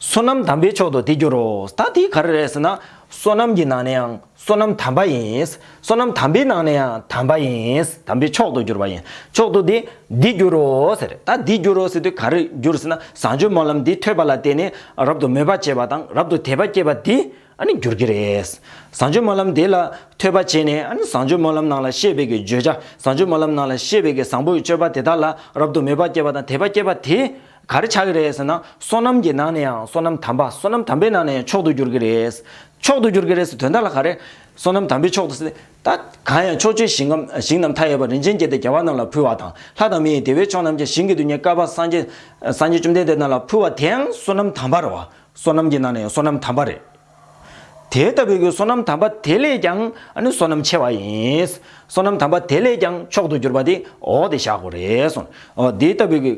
བསོད་ནམས་དམ་པའི་མཆོག་ཏུ་དེ་འགྱུར་རོ། ད་དེ་ག་རེ་རེད་ཟེར་ན། བསོད་ནམས་ཀྱི་ནང་ནའང་བསོད་ནམས་དམ་པ་ཡིན། བསོད་ནམས་དམ་པའི་ནང་ནའང་དམ་པ་ཡིན། དམ་པའི་མཆོག་ཏུ་འགྱུར་བ་ཡིན། མཆོག་ཏུ་དེ་འདི་འགྱུར་རོ་ཟེར། ད་འདི་འགྱུར་རོ་ཟེར་དུས་ག་རེ་འགྱུར་ཟེར་ན། བཟང་སྤྱོད་སྨོན་ལམ་འདི་ཐོས་པ་ལ་བརྟེན་ནས་རབ་ཏུ་མོས་པ་བྱེད་པ་དང་རབ་ཏུ་དད་པ་བསྐྱེད་པ་འདི་ཨ་ནི་འགྱུར་གྱི་རེད། བཟང་སྤྱོད་སྨོན་ལམ་དེ་ལ་ཐོས་པ་བྱས་ནས་ཨ་ནི་བཟང་སྤྱོད་སྨོན་ལམ་ནང་ལ་བཤད་པའི་གི་བརྗོད་བྱ་བཟང་སྤྱོད་སྨོན་ལམ་ནང་ལ་བཤད་པའི་གི་བཟང་པོའི་སྤྱོད་པ་དེ་དག་ལ་རབ་ཏུ་མོས་པ་བསྐྱེད་པ་དང་དད་པ་བསྐྱེད་པ་དེ་ག་རེ་བྱ་གི་རེད་ཟེར་ན་སོ་ནམ་གྱི་ནང་ནས་ཡང་སོ་ནམ་དམ་པ་སོ་ནམ་དམ་པའི་ནང་ནས་ཡང་མཆོག་ཏུ་གྱུར་གྱི་རེད། མཆོག་ཏུ་གྱུར་གྱི་རེད་ཟེར་དོན་དག་ལ་ག་རེ། སོ་ནམ་དམ་པའི་མཆོག་ཏུ་ཟེར་ད། གང་ཡང་ཕྱོགས་བཅུའི་ཞིང་ཁམས་ཞིང་རྣམས་མཐའ་ཡས་པ་རིན་ཆེན་བསྐྱེད་དེ་རྒྱལ་བ་རྣམས་ལ་ཕུལ་བ་དང་ལྷ་དང་མི་ཡི་བདེ་བའི་མཆོག་རྣམས་ཀྱང་ཞིང་གི་དུས་ཉི་སྐལ་པ་སངས་རྒྱས་སངས་རྒྱས་བཅོམ་ལྡན་འདས་རྣམས་ལ་ཕུལ་བ་དེའང་སོ་ནམ་དམ་པར་བ། སོ་ནམ་གྱི་ནང་ནས་ཡང་སོ་ནམ་དམ་པ་རེད། དེ་ལྟ་བུའི་སོ་ནམ་དམ་པ་དེ་ལས་ཀྱང་སོ་ནམ་ཆེ་བ་ཡིན། སོ་ནམ་དམ་པ་དེ་ལས་ཀྱང་མཆོག་ཏུ་གྱུར་པ་དེ་འོག་སྟེ་བཞག་གོ། དེ་ལྟ་བུའི།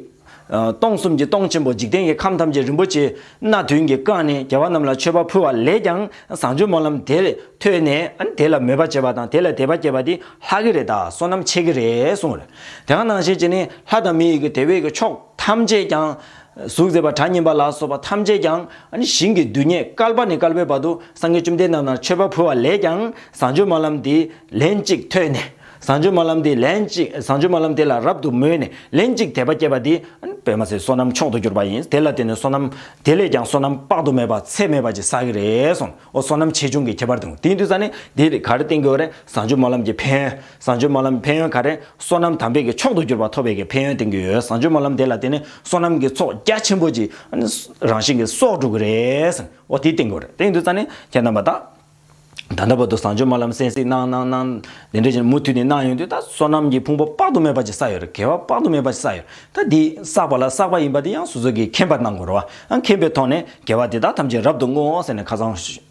སྟོང་གསུམ་གྱི་སྟོང་ཆེན་པོ་འཇིག་རྟེན་གྱི་ཁམས་ཐམས་ཅད་རིན་པོ་ཆེ་སྣ་བདུན་གྱིས་བཀང་ནས་རྒྱལ་བ་རྣམས་ལ་མཆོད་པ་ཕུལ་བ་ལས་ཀྱང་བཟང་སྤྱོད་སྨོན་ལམ་དེ་ཐོས་ནས་དེ་ལ་མོས་པ་བྱེད་པ་དང་དེ་ལ་དད་པ་བསྐྱེད་པ་དེ་ལྷག་གི་རེད་ད་སོ་ནམ་ཆེ་གི་རེད་གསུངས། དེ་གང་ནང་བཞིན་བྱས་ནས་ལྷ་དང་མི་ཡི་གེ་དེ་བས་ཀྱི་ཕྱོགས་ཐམས་ཅད་ཀྱང་གཟུགས་མཛེས་པ་གྲགས་སྙན་པ་ལ་སོགས་པ་ཐམས་ཅད་ཀྱང་ཞིང་གི་རྡུལ་སྙེད་སྐལ་པ་ནས་སྐལ་པའི་བར་དུ་སངས་རྒྱས་བཅོམ་ལྡན་རྣམས་ལ་མཆོད་པ་ཕུལ་བ་ལས་ཀྱང་བཟང་སྤྱོད་སྨོན་ལམ་འདི་ལན་གཅིག་ཐོས་ནས། བཟང་སྤྱོད་སྨོན་ལམ་འདི་ལན་གཅིག་བཟང་སྤྱོད་སྨོན་ལམ་དེ་ལ་རབ་ཏུ་མོས་ནས་ལན་གཅིག་དད་པ་བསྐྱེད་པ་འདི། པདྨ་ཚེའི་བསོད་ནམས་མཆོག་ཏུ་གྱུར་པ་ཡིན་དེ་ལ་བརྟེན་ནས་བསོད་ནམས་དེ་ལས་ཀྱང་བསོད་ནམས་དཔག་ཏུ་མེད་པ་ཚད་མེད་པ་ཅིག་བསགས་ཀྱི་རེད་སོང་ཨོ་བསོད་ནམས་ཆེ་ཆུང་གི་ཁྱད་པར་དུ་དེའི་དུས་ས་ནས་འདིར་ག་རེ་བསྟེན་དགོས་པ་རེད་བཟང་སྤྱོད་སྨོན་ལམ་གྱི་ཕན་བཟང་སྤྱོད་སྨོན་ལམ་ཕན་ཡོན་ག་རེ་སོ་ནམ་དམ་པས་ཀྱི་མཆོག་ཏུ་གྱུར་པ་ཐོབ་པའི་ཀྱི་ཕན་ཡོན་བསྟན་གྱི་ཡོད་བཟང་སྤྱོད་སྨོན་ལམ་དེ་ལ་བརྟེན་ནས་སོ་ནམ་གྱི་ཚོགས་རྒྱ་ཆེན་པོ་ཅིག་རང་བཞིན་གྱི་སྲོག་འགྲོ་གི་རེད། འོ་དེ་བསྟན་གྱི་རེད་བསྟན་གྱི་འདུག་ཙང་ནས་ཁྱེད་རྣམ་པ་དག་ད་ལྟ་བར་དུ་བཟང་སྤྱོད་སྨོན་ལམ་གསན་གཟིགས་གནང་གནང་གནང་དེ་འདྲ་ཅིག་མུ་མཐུད་ནས་གནང་ཡོང་དུས་ད་སོ་ནམ་གྱི་ཕུང་པོ་དཔག་ཏུ་མེད་པ་ཅིག་བསགས་ཡོད་རེད་དགེ་བ་དཔག་ཏུ་མེད་པ་ཅིག་བསགས་ཡོད་རེད་ད་འདི་བསགས་པ་ལ་བསགས་པ་ཡིན་པ་དེ་ཡང་སོ་སོ་གྱིས་མཁྱེན་པར་གནང་དགོས་རོགས་ཨང་མཁྱེན་པའི་ཐོག་ནས་དགེ་བ་དེ་དག་ཐམས་ཅད་རབ་ཏུ་བསྔོའོ་ཟེར་ནས་ཁ་ཚང་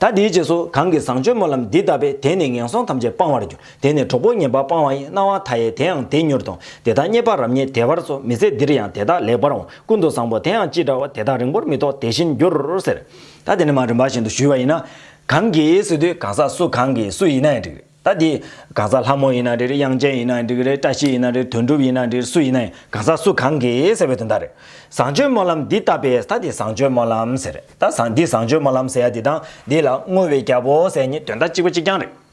ད་དེའི་རྗེས་སུ་གང་གིས་བཟང་སྤྱོད་སྨོན་ལམ་འདི་བཏབ་པས་དེ་ནི་ངན་སོང་ཐམས་ཅད་སྤང་བར་འགྱུར་དེ་ནི་གྲོགས་པོ་ངན་པ་སྤང་བ་ཡིན་སྣང་བ་མཐའ་ཡས་དེའང་དེ་མྱུར་དང་དེ་དག་རྙེད་པ་རབ་རྙེད་དེ་བར་སོ་མི་ཟད་འདིར་ཡང་དེ་དག་ལེགས་པར་འོང་ཀུན་ཏུ་བཟང་པོ་དེའང་ཅི་འདྲ་བ་དེ་དག་རིང་པོར་མི་ཐོགས་དེ་བཞིན་འགྱུར་ཟེར། ད་དེ་ནི་མ་རིམ་པ་བཞིན་དུ་ཞུས་པ་ཡིན་ན། གང་གིས་སུ་དུས་གང་ཟག་སུ་གང་གིས་སུ་ཡིན་ན་ཡང་འགྲིག། ད་དེ། གང་ཟག་ལྷ་མོ་ཡིན་ན་རེད་དབྱངས་ཅན་ཡིན་ན་འགྲིག་རེད་བཀྲ་ཤིས་ཡིན་ན་རེད་དོན་གྲུབ་ཡིན་ན་འགྲིག་རེད་སུ་ཡིན་ན་ཡིན་གང་ཟག་སུ་གང་གི་ཟེར་བའི་དོན་དག་རེད། བཟང་སྤྱོད་སྨོན་ལམ་འདི་བཏབ་པས་ད་དེ་བཟང་སྤྱོད་སྨོན་ལམ་ཟེར། ད་བཟང་འདི་བཟང་སྤྱོད་སྨོན་ལམ་ཟེར་ཡ་དེ་དང་དེ་ལ་བསྔོ་བའི་རྒྱལ་པོ་ཟེར་གཉིས་དོན་དག་གཅིག་པ་གཅིག་རྐྱང་རེད།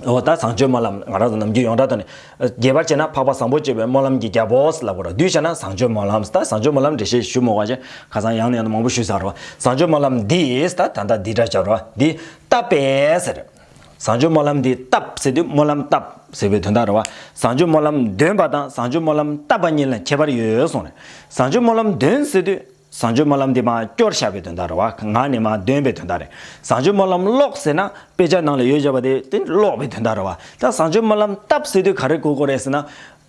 འོ་ད་བཟང་སྤྱོད་སྨོན་ལམ་ང་རང་ཚོ་ནམ་རྒྱུན་ཡོངས་གྲགས་ཐོག་ནས། རྒྱས་པར་བྱས་ན་འཕགས་པ་བཟང་པོ་སྤྱོད་པའི་སྨོན་ལམ་གྱི་རྒྱལ་པོ་ལབ་དགོས་ར་བསྡུས་བྱས་ན་བཟང་སྤྱོད་སྨོན་ལམ་ད་བཟང་སྤྱོད་སྨོན་ལམ་འགྲེལ་བཤད་ཞུ་མོ་བ་ཅན་ཁ་སང་ཡང་ནས་ཡང་དུ་མང་པོ་ཞུས་ཟ་རོ་བཟང་སྤྱོད་སྨོན་ལམ་འདི་ད་ད་ད་འདི་འདྲ་བྱ་རོ་འདི་བཏབ་པས་ཟེར། བཟང་སྤྱོད་སྨོན་ལམ་འདི་བཏབ་ཟེར་དུས་སྨོན་ལམ་བཏབ་ཟེར་བའི་དོན་དག་རེད། བཟང་སྤྱོད་སྨོན་ལམ་འདོན་པ་དང་བཟང་སྤྱོད་སྨོན་ལམ་བཏབ་པ་གཉིས་ལ་ཁྱད་པར་ཡོད་གསུངས་ནས། བཟང་སྤྱོད་སྨོན་ལམ་འདོན་ཟེར་དུས་བཟང་སྤྱོད་སྨོན་ལམ་འདི་མ་སྐྱོར་བྱ་བའི་དོན་དག་རེད། ངག་ནས་མ་འདོན་པའི་དོན་དག་རེད། བཟང་སྤྱོད་སྨོན་ལམ་ཀློག་ཟེར་ན་དཔེ་ཆ་ནང་ལ་ཡོད་ཅེས་པ་དེ་ཀློག་པའི་དོན་དག་རེད། ད་བཟང་སྤྱོད་སྨོན་ལམ་བཏབ་ཟེར་དུས་ག་རེ་གོ་གོ་རེད་ཟེར་ན།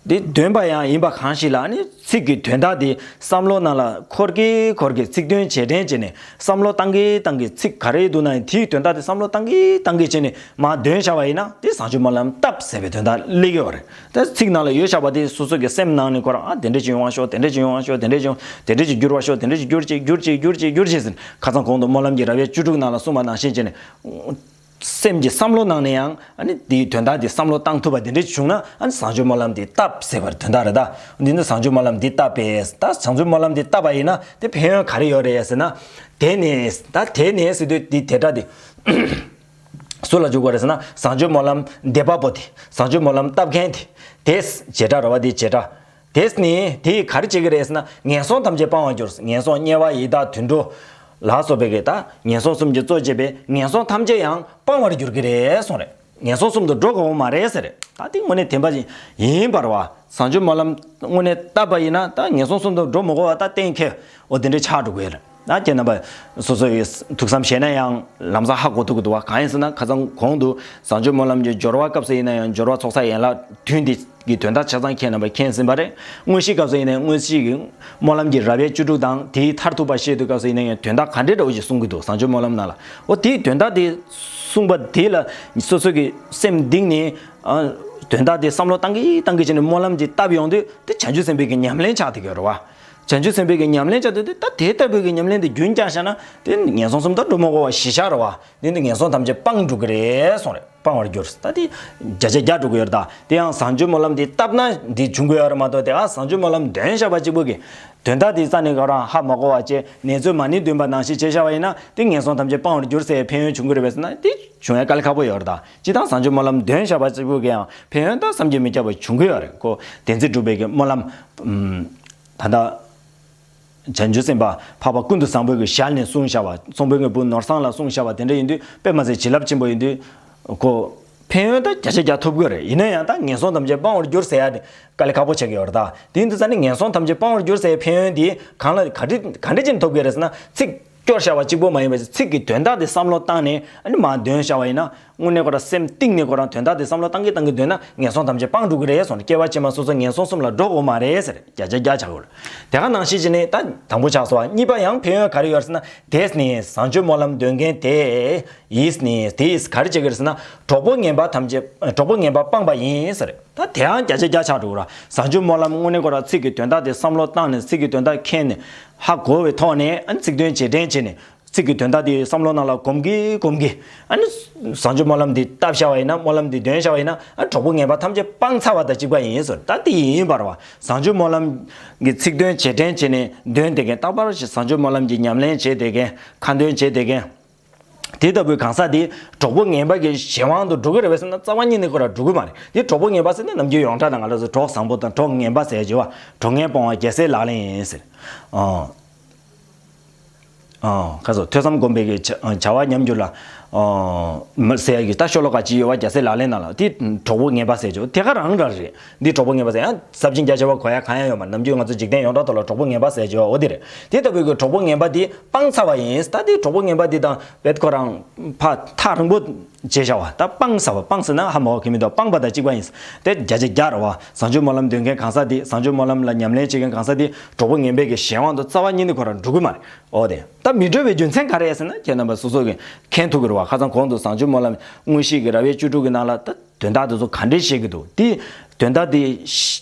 འདི་འདོན་པ་ཡང་ཡིན་པ་གང་ཞིག་ལ་ནི་ཚིག་གི་དོན་དག་འདི་བསམ་བློ་རྣམས་ལ་འཁོར་གྱི་འཁོར་གྱི་ཚིག་དོན་ཇེ་དྲན་བྱས་ནས་བསམ་བློ་བཏང་གི་བཏང་གི་ཚིག་ག་རེ་འདུག་ན་ཡང་དེའི་དོན་དག་འདི་བསམ་བློ་བཏང་གི་བཏང་གི་བྱས་ནས་མ་འདོན་བཞག་པ་ཡིན་ན་དེ་བཟང་སྤྱོད་སྨོན་ལམ་བཏབ་ཟེར་བའི་དོན་དག་ལེགས་ཡོད་རེད་དེ་ཚིག་ནང་ལ་ཡོད་བཞག་པ་དེ་སོ་སོ་གྱི་སེམས་ནང་ནས་འཁོར་ཨ་དེ་འདྲ་ཅིག་ཡོང་བ་ཤོག་དེ་འདྲ་ཅིག་ཡོང་བ་ཤོག་དེ་འདྲ་ཅིག་ཡོང་དེ་འདྲ་ཅིག་འགྱུར་བ་ཤོག་དེ་འདྲ་ཅིག་འགྱུར་ཅིག་འགྱུར་ཅིག་འགྱུར་ཅིག་འགྱུར་ཅིག་ཟེར་ཁ་ཚང་གོང་དུ་སྨོན་ལམ་གྱི་ར་བའི་བཅུ་དྲུག་ནང་ལ་གསུངས་པ་ནང་བཞིན་བྱས་ནས། སེམས་ཀྱི་བསམ་བློ་གནང་ནས་ཡང་དེའི་དོན་དག་དེ་བསམ་བློ་བཏང་ཐུབ་པ་དེ་འདྲ་བྱུང་ན་བཟང་སྤྱོད་སྨོན་ལམ་དེ་བཏབ་ཟེར་བར་དོན་དག་རེད་ད། འདི་ནི་བཟང་སྤྱོད་སྨོན་ལམ་འདི་བཏབ་པས་ད་བཟང་སྤྱོད་སྨོན་ལམ་འདི་བཏབ་པ་ཡིན་ན་དེ་ཕན་ཡོན་ག་རེ་ཡོད་རེད་ཟེར་ན། དེ་ནི་ད་དེ་ནི་སྲིད་དོན་འདི་དེ་འདྲ་དེ། སུ་ལ་འཇུག་པ་རེད་ཟེར་ན་བཟང་སྤྱོད་སྨོན་ལམ་འདེབས་པ་པོ་དེ་བཟང་སྤྱོད་སྨོན་ལམ་བཏབ་མཁན་དེ་དེས་བྱེད་དྲག་ར་བ་དེས་བྱེད་དྲག་དེས་ནི་དེ་ཡིས་ག་རེ་བྱེད་ཀྱི་རེད་ཟེར་ན་ངན་སོང་ཐམས་ཅད་སྤང་བར་གྱུར། ངན་སོང་དམྱལ་བ་ཡི་དྭགས་དུད་འགྲོ། ལ་སོགས་པའི་གེགས་དང་ངན་སོང་གསུམ་གྱི་གཙོ་བྱས་པའི་ངན་སོང་ཐམས་ཅད་ཡང་སྤང་བར་གྱུར་གྱི་རེད་གསུངས་རེད། ངན་སོང་གསུམ་དུ་འགྲོ་དགོས་པ་མ་རེད་ཟེར། ད་དེ་དངོས་གནས་དེ་འབའ་ཞིག་ཡིན་པར་བ། བཟང་སྤྱོད་སྨོན་ལམ་དངོས་གནས་བཏབ་པ་ཡིན་ན་ད་ངན་སོང་གསུམ་དུ་འགྲོ་མི་དགོས་བ་ད་གཏན་འཁེལ་བོ་དེ་འདྲའི་ཆགས་འགྲོ་དགོས་རེད། ན་ཁྱེད་རྣམ་པ་སོ་སོ་ཡི་ཐུགས་བསམ་བཞེས་ན་ཡང་ལམ་སང་ཧ་གོ་ཐུག་གི་འདུག་བ་གང་ཡིན་ཟེར་ན་ཁ་ཚང་གོང་དུ་བཟང་སྤྱོད་སྨོན་ལམ་གྱི་སྦྱོར་བ་སྐབས་སུ་ཡིན་ན་ཡང་སྦྱོར་བ་ཚོགས་བསགས་ཡན་ལག་བདུན་འདི་གི་དོན་དག་ཆ་ཚང་ཁྱེད་རྣམ་པ་མཁྱེན་ཟིན་པ་རེད་དངོས་གཞིའི་སྐབས་སུ་ཡིན་ན་དངོས་གཞི་གི་སྨོན་ལམ་གྱི་རབ་ཡས་བཅུ་དྲུག་དང་དེའི་མཐར་ཐུག་པ་བཤད་དུས་སྐབས་སུ་ཡིན་ན་ཡང་དོན་དག་ག་འདྲའི་འདྲ་བོ་ཞིག་གསུང་གི་འདུག་བཟང་སྤྱོད་སྨོན་ལམ་ནང་ལ་འོ་དེའི་དོན་དག་དེ་གསུང་པ་དེ་ལ་སོ་སོ་གི་སེམས་གདིང་ནས་དོན་དག་དེ་བསམ་བློ་བཏང་གི་བཏང་གི་བྱས་ནས་སྨོན་ལམ་གྱི་བཏབ་ཡོང་དུས་དེ་བྱང་ཆུབ་སེམས་དཔའི་གི་ཉམས་ལེན་ཆགས་ཐུག་གི་རེད་བ། བྱང་ཆུབ་སེམས་དཔའི་གྱི་ཉམས་ལེན་བྱ་འདོད་དེ་ལྟ་དེ་ལྟ་བུའི་གྱི་ཉམས་ལེན་དེ་རྒྱུན་བསྐྱངས་བྱས་ན་དེ་ནི་ངན་སོང་གསུམ་དང་གྲུ་མོ་བོ་བ་བཞི་ཤར་བ་དེ་ནི་ངན་སོང་ཐམས་ཅད་སྤངས་འགྲོ་གི་རེད་སོང་རེད་སྤང་བར་འགྱུར་ད་དེ་བརྒྱ་ཆ་བརྒྱ་འགྲོ་གི་ཡོད་རེད་ད་དེ་ཡང་བཟང་སྤྱོད་སྨོན་ལམ་དེ་བཏབ་ན་དེ་འབྱུང་གི་ཡོད་རེད་མ་གཏོགས་དེ་ག་བཟང་སྤྱོད་སྨོན་ལམ་འདོན་བཞག་པ་གཅིག་པུ་གྱི་དོན་དག་དེ་རྩ་ནས་ག་རང་ཧ་མ་གོ་བ་བཅས་ནེ་ཚོས་མ་ནི་འདུན་པ་ནང་བཞིན་བྱེད་བཞག་པ་ཡིན་ན་དེ་ངན་སོང་ཐམས་ཅད་སྤང་བར་འགྱུར་སའི་ཕན་ཡོན་འབྱུང་གི་རེད་བས་ན་དེ་འབྱུང་ཡ་ག་ལ་ཁག་པོ་ཡོད་རེད་ད། སྤྱི་དང་བཟང་སྤྱོད་སྨོན་ལམ་འདོན་བྱ་བ་གཅིག་པུ་གིའང་ཕན་ཡོན་དང་བསམ་གྱིས་མི་ཁྱབ་པ་འབྱུང་གི་ཡོད་རེད་ཀོ། དེ་ཚེ་སྒྲུབ་པའི་གི་སྨོན་ལམ། ད་ལྟ། བྱང་ཆུབ་སེམས་དཔའ་འཕགས་པ་ཀུན་ཏུ་བཟང་པོའི་གི་ཞལ་ནས་གསུང་བྱ་བ་གཙང་པོའི་ངའི་བུ་ནོར་བཟང་ལ་གསུང་བྱ་བ་དེ་འདྲ་ཡིན་དུས་དཔེ་མ་ཟད་བྱིན་རླབས་ཆེན་པོ་ཡིན་དུས། ཀོ། ཕན་ཡོན་དང་བརྒྱ་ཆ་བརྒྱ་ཐོབ་གི་རེད་ཡིན་ན་ཡང་ད་ངན་སོང་ཐམས་ཅད་སྤང་བར་འགྱུར་ཟེར་ཡ་དེ་དཀའ་ལས་ཁག་པོ་བྱེད་གི་ཡོད་རེད་ད། དེ་ཡིན་དུས་ད་ནི་ངན་སོང་ཐམས་ཅད་སྤང་བར་འགྱུར་ཟེར་བའི་ཕན་ཡོན་དེ་གང་ལ་ག་འདྲི་ག་འདྲི་ཅན་ཐོབ་གི་རེད་ཟེར་ན་ཚིག། སྐྱོར་བྱ་བ་གཅིག་པོ་མ་ཡིན་པ་ཞིག་ཚིག་གི་དོན་དག་དེ་བསམ་བློ་བཏང་ནས་མ་འདོན་བྱ་བ་ཡིན་ན། དངོས་གནས་ཁོ་རང་སེམས་གཏིང་ནས་ཁོ་རང་དོན་དག་དེ་བསམ་བློ་བཏང་གིན་བཏང་གིན་སྡོད་ན་ངན་སོང་ཐམས་ཅད་སྤངས་འགྲོ་གི་རེད་སོང་སྐྱེ་བ་ཕྱི་མ་སོ་སོ་ངན་སོང་གསུམ་ལ་འགྲོ་དགོས་མ་རེད་ཟེར་བརྒྱ་ཆ་བརྒྱ་བྱ་དགོས། དེ་ག་ནང་ཤེས་ཀྱི་ནི་ད་དང་པོ་ཆགས་སོ་བ་གཉིས་པ་ཡང་ཕན་ཡོན་ག་རེ་ཡོད་ཟེར་ན་དེས་ནི་བཟང་སྤྱོད་སྨོན་ལམ་འདོན་མཁན་དེ་ཡིས་ནི་དེ་ཡིས་ག་རེ་བྱེད་གི་རེད་ཟེར་ན་གྲོགས་པོ་ངན་པ་ཐམས་ཅད་གྲོགས་པོ་ངན་པ་སྤངས་པ་ཡིན་ཟེར། ད་དེའང་བརྒྱ་ཆ་བརྒྱ་ཆགས་འགྲོ་གི་ར། བཟང་སྤྱོད་སྨོན་ལམ་དངོས་གནས་གོ་ར་ཚིག་གི་དོན་དག་དེ་བསམ་བློ་བཏང་ནས་ཚིག་གི་དོན་དག་མཁྱེན་ནས། ཧ་གོ་བའི་ཐོག་ནས་ཚིག་དོན་རྗེས་དྲན་བྱས་ནས། ཚིག་གི་དོན་དག་དེ་བསམ་བློ་ནང་ལ་གོམས་གི་གོམས་གི། བཟང་སྤྱོད་སྨོན་ལམ་འདི་བཏབ་བཞག་བ་ཡིན་ན་སྨོན་ལམ་འདི་འདོན་བཞག་བ་ཡིན་ན། གྲོགས་པོ་ངན་པ་ཐམས་ཅད་སྤང་ཚར་བ་དང་གཅིག་པ་ཡིན་ཟེར་ད་དེ་ཡིན་པར། བཟང་སྤྱོད་སྨོན་ལམ། གི་ཚིག་དོན་རྗེས་དྲན་བྱས་ནས་འདོན་བསྡད་མཁན་རྟག་པར་བཟང་སྤྱོད་སྨོན་ལམ་གྱི་ཉམས་ལེན་བྱེད་བསྡད་མཁན། ཁ་འདོན་བྱེད་བསྡད་མཁན། དེ་ལྟ་བུའི་གང་ཟག་དེ་གྲོགས་པོ་ངན་པ་གྱི་གཞན་དབང་དུ་འགྲོ་གི་རེད་བས་སེམས་ན་རྩ་བ་ཉིད་ནས་ཁོ་ར་འགྲོ་གི་མ་རེད་དེ་གྲོགས་པོ་ངན་པ་ཟེར་ནས་ནམ་རྒྱུན་ཡོངས་གྲགས་དང་ང་ལ་ཟེར་གྲོགས་བཟང་པོ་དང་གྲོགས་ངན་པ་ཟེར་བྱས་བ་གྲོགས་ངན་སྤོང་བ་རྒྱལ་སྲས་ལག་ལེན་ཡིན་ཟེར། ཁ་སོ་ཐོས་བསམ་སྒོམ་པའི་གི་བྱ་བ་ཉམས་འགྱུར་ལ། ཟེར་གི་ད་ཤོ་ལོ་ཀ་གཅིག་ཡོད་བ་རྒྱལ་སྲས་ལག་ལེན་ན་ལ་དེ་གྲོགས་པོ་ངན་པ་ཟེར་བྱས་བ་དེ་ག་རང་ར་རེད་འདིར་གྲོགས་པོ་ངན་པ་ཟེར་ཡང་ཟབ་ཅིང་རྒྱ་ཆེ་བ་གོ་ཡ་གང་ཡང་ཡོད་མ་རེད་ནམ་རྒྱུན་ང་ཚོ་འཇིག་རྟེན་ཡོངས་གྲགས་ཐོག་ལ་གྲོགས་པོ་ངན་པ་ཟེར་བྱས་བ་འོ་དེ་རེད། དེ་ལྟ་བུའི་གི་གྲོགས་པོ་ངན་པ་དེ་སྤང་ཚར་བ་ཡིན་ད་དེ་གྲོགས་པོ་ངན་པ་དེ་དང་བེད་ཁོ་རང་ཕ་ཐག་རིང་པོ་བྱས་བྱ་བ་ད་སྤང་ཚར་བ་སྤང་ཟེར་ན་ཧ་མོག་གི་མི་འདུག་སྤངས་པ་དང་གཅིག་པ་ཡིན་དེ་བརྒྱ་ཆ་བརྒྱ་རེད་བ་བཟང་སྤྱོད་སྨོན་ལམ་འདོན་མཁན་གང་ཟག་དེ་བཟང་སྤྱོད་སྨོན་ལམ་ལ་ཉམས་ལེན་བྱེད་མཁན་གང་ཟག་དེ་གྲོགས་པོ་ངན་པའི་གི་གཞན་དབང་དུ་རྩ་བ་ཉིད་ནས་ཁོ་རང་འགྲོ་གི་མ་རེད་འོ་དེ་ད་མི་འགྲོ་བའི་རྒྱུ་མཚན་ག་རེད་ཟེར་ན་ཁྱེད་རྣམ་པ་སོ་སོ་གིས་མཁན་ཐུག་གི་རེད་བ་ཁ་ཚང་གོང་དུ་བཟང་སྤྱོད་སྨོན་ལམ་དངོས་གཞི་གི་ར་བའི་བཅུ་དྲུག་གི་ནང་ལ་ད། དོན་དག་དེ་ཚོ་ག་འདྲས་བྱེད་ཀྱི་འདུག་དེ། དོན་དག་དེ།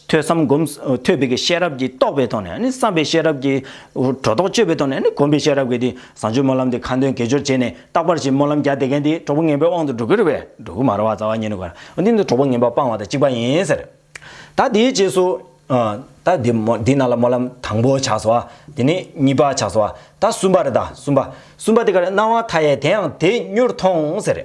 ཐོས་བསམ་སྒོམ། ཐོས་པའི་ཀྱི་ཤེས་རབ་ཀྱིས་རྟོགས་པའི་ཐོག་ནས་ནི་བསམ་པའི་ཤེས་རབ་ཀྱིས། སྒྲོ་འདོགས་གཅོད་པའི་ཐོག་ནས་ནི་སྒོམ་པའི་ཤེས་རབ་ཀྱིས་དེ་བཟང་སྤྱོད་སྨོན་ལམ་དེ་ཁ་འདོན་དགེ་སྦྱོར་བྱས་ནས་རྟག་པར་ཞིག་སྨོན་ལམ་རྒྱག་བསྡད་མཁན་དེ་གྲོགས་པོ་ངན་པའི་དབང་དུ་འགྲོ་གི་རེད་པས་འགྲོ་གི་མ་རེད་བ་རྩ་བ་ཉིད་ནས་གོ། འོན་ཏེ་འདི་གྲོགས་པོ་ངན་པ་སྤང་བ་དང་གཅིག་པ་ཡིན་ཟེར། ད་དེའི་རྗེས་སུ། ད་དེ། དེ་རྣམས་ལ་སྨོན་ལམ་དང་པོ་ཆགས་སོ། དེ་ནས་གཉིས་པ་ཆགས་སོ། ད་གསུམ་པ་རེད་ད་གསུམ་པ། གསུམ་པ་དེ་ག་རེད་སྣང་བ་མཐའ་ཡས་དེའང་དེ་མྱུར་མཐོང་ཟེར།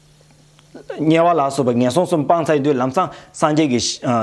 དམྱལ་བ་ལ་སོགས་པའི་ངན་སོང་གསུམ་སྤངས་ཚར་དུས་ལམ་སང་སངས་རྒྱས་ཀྱི།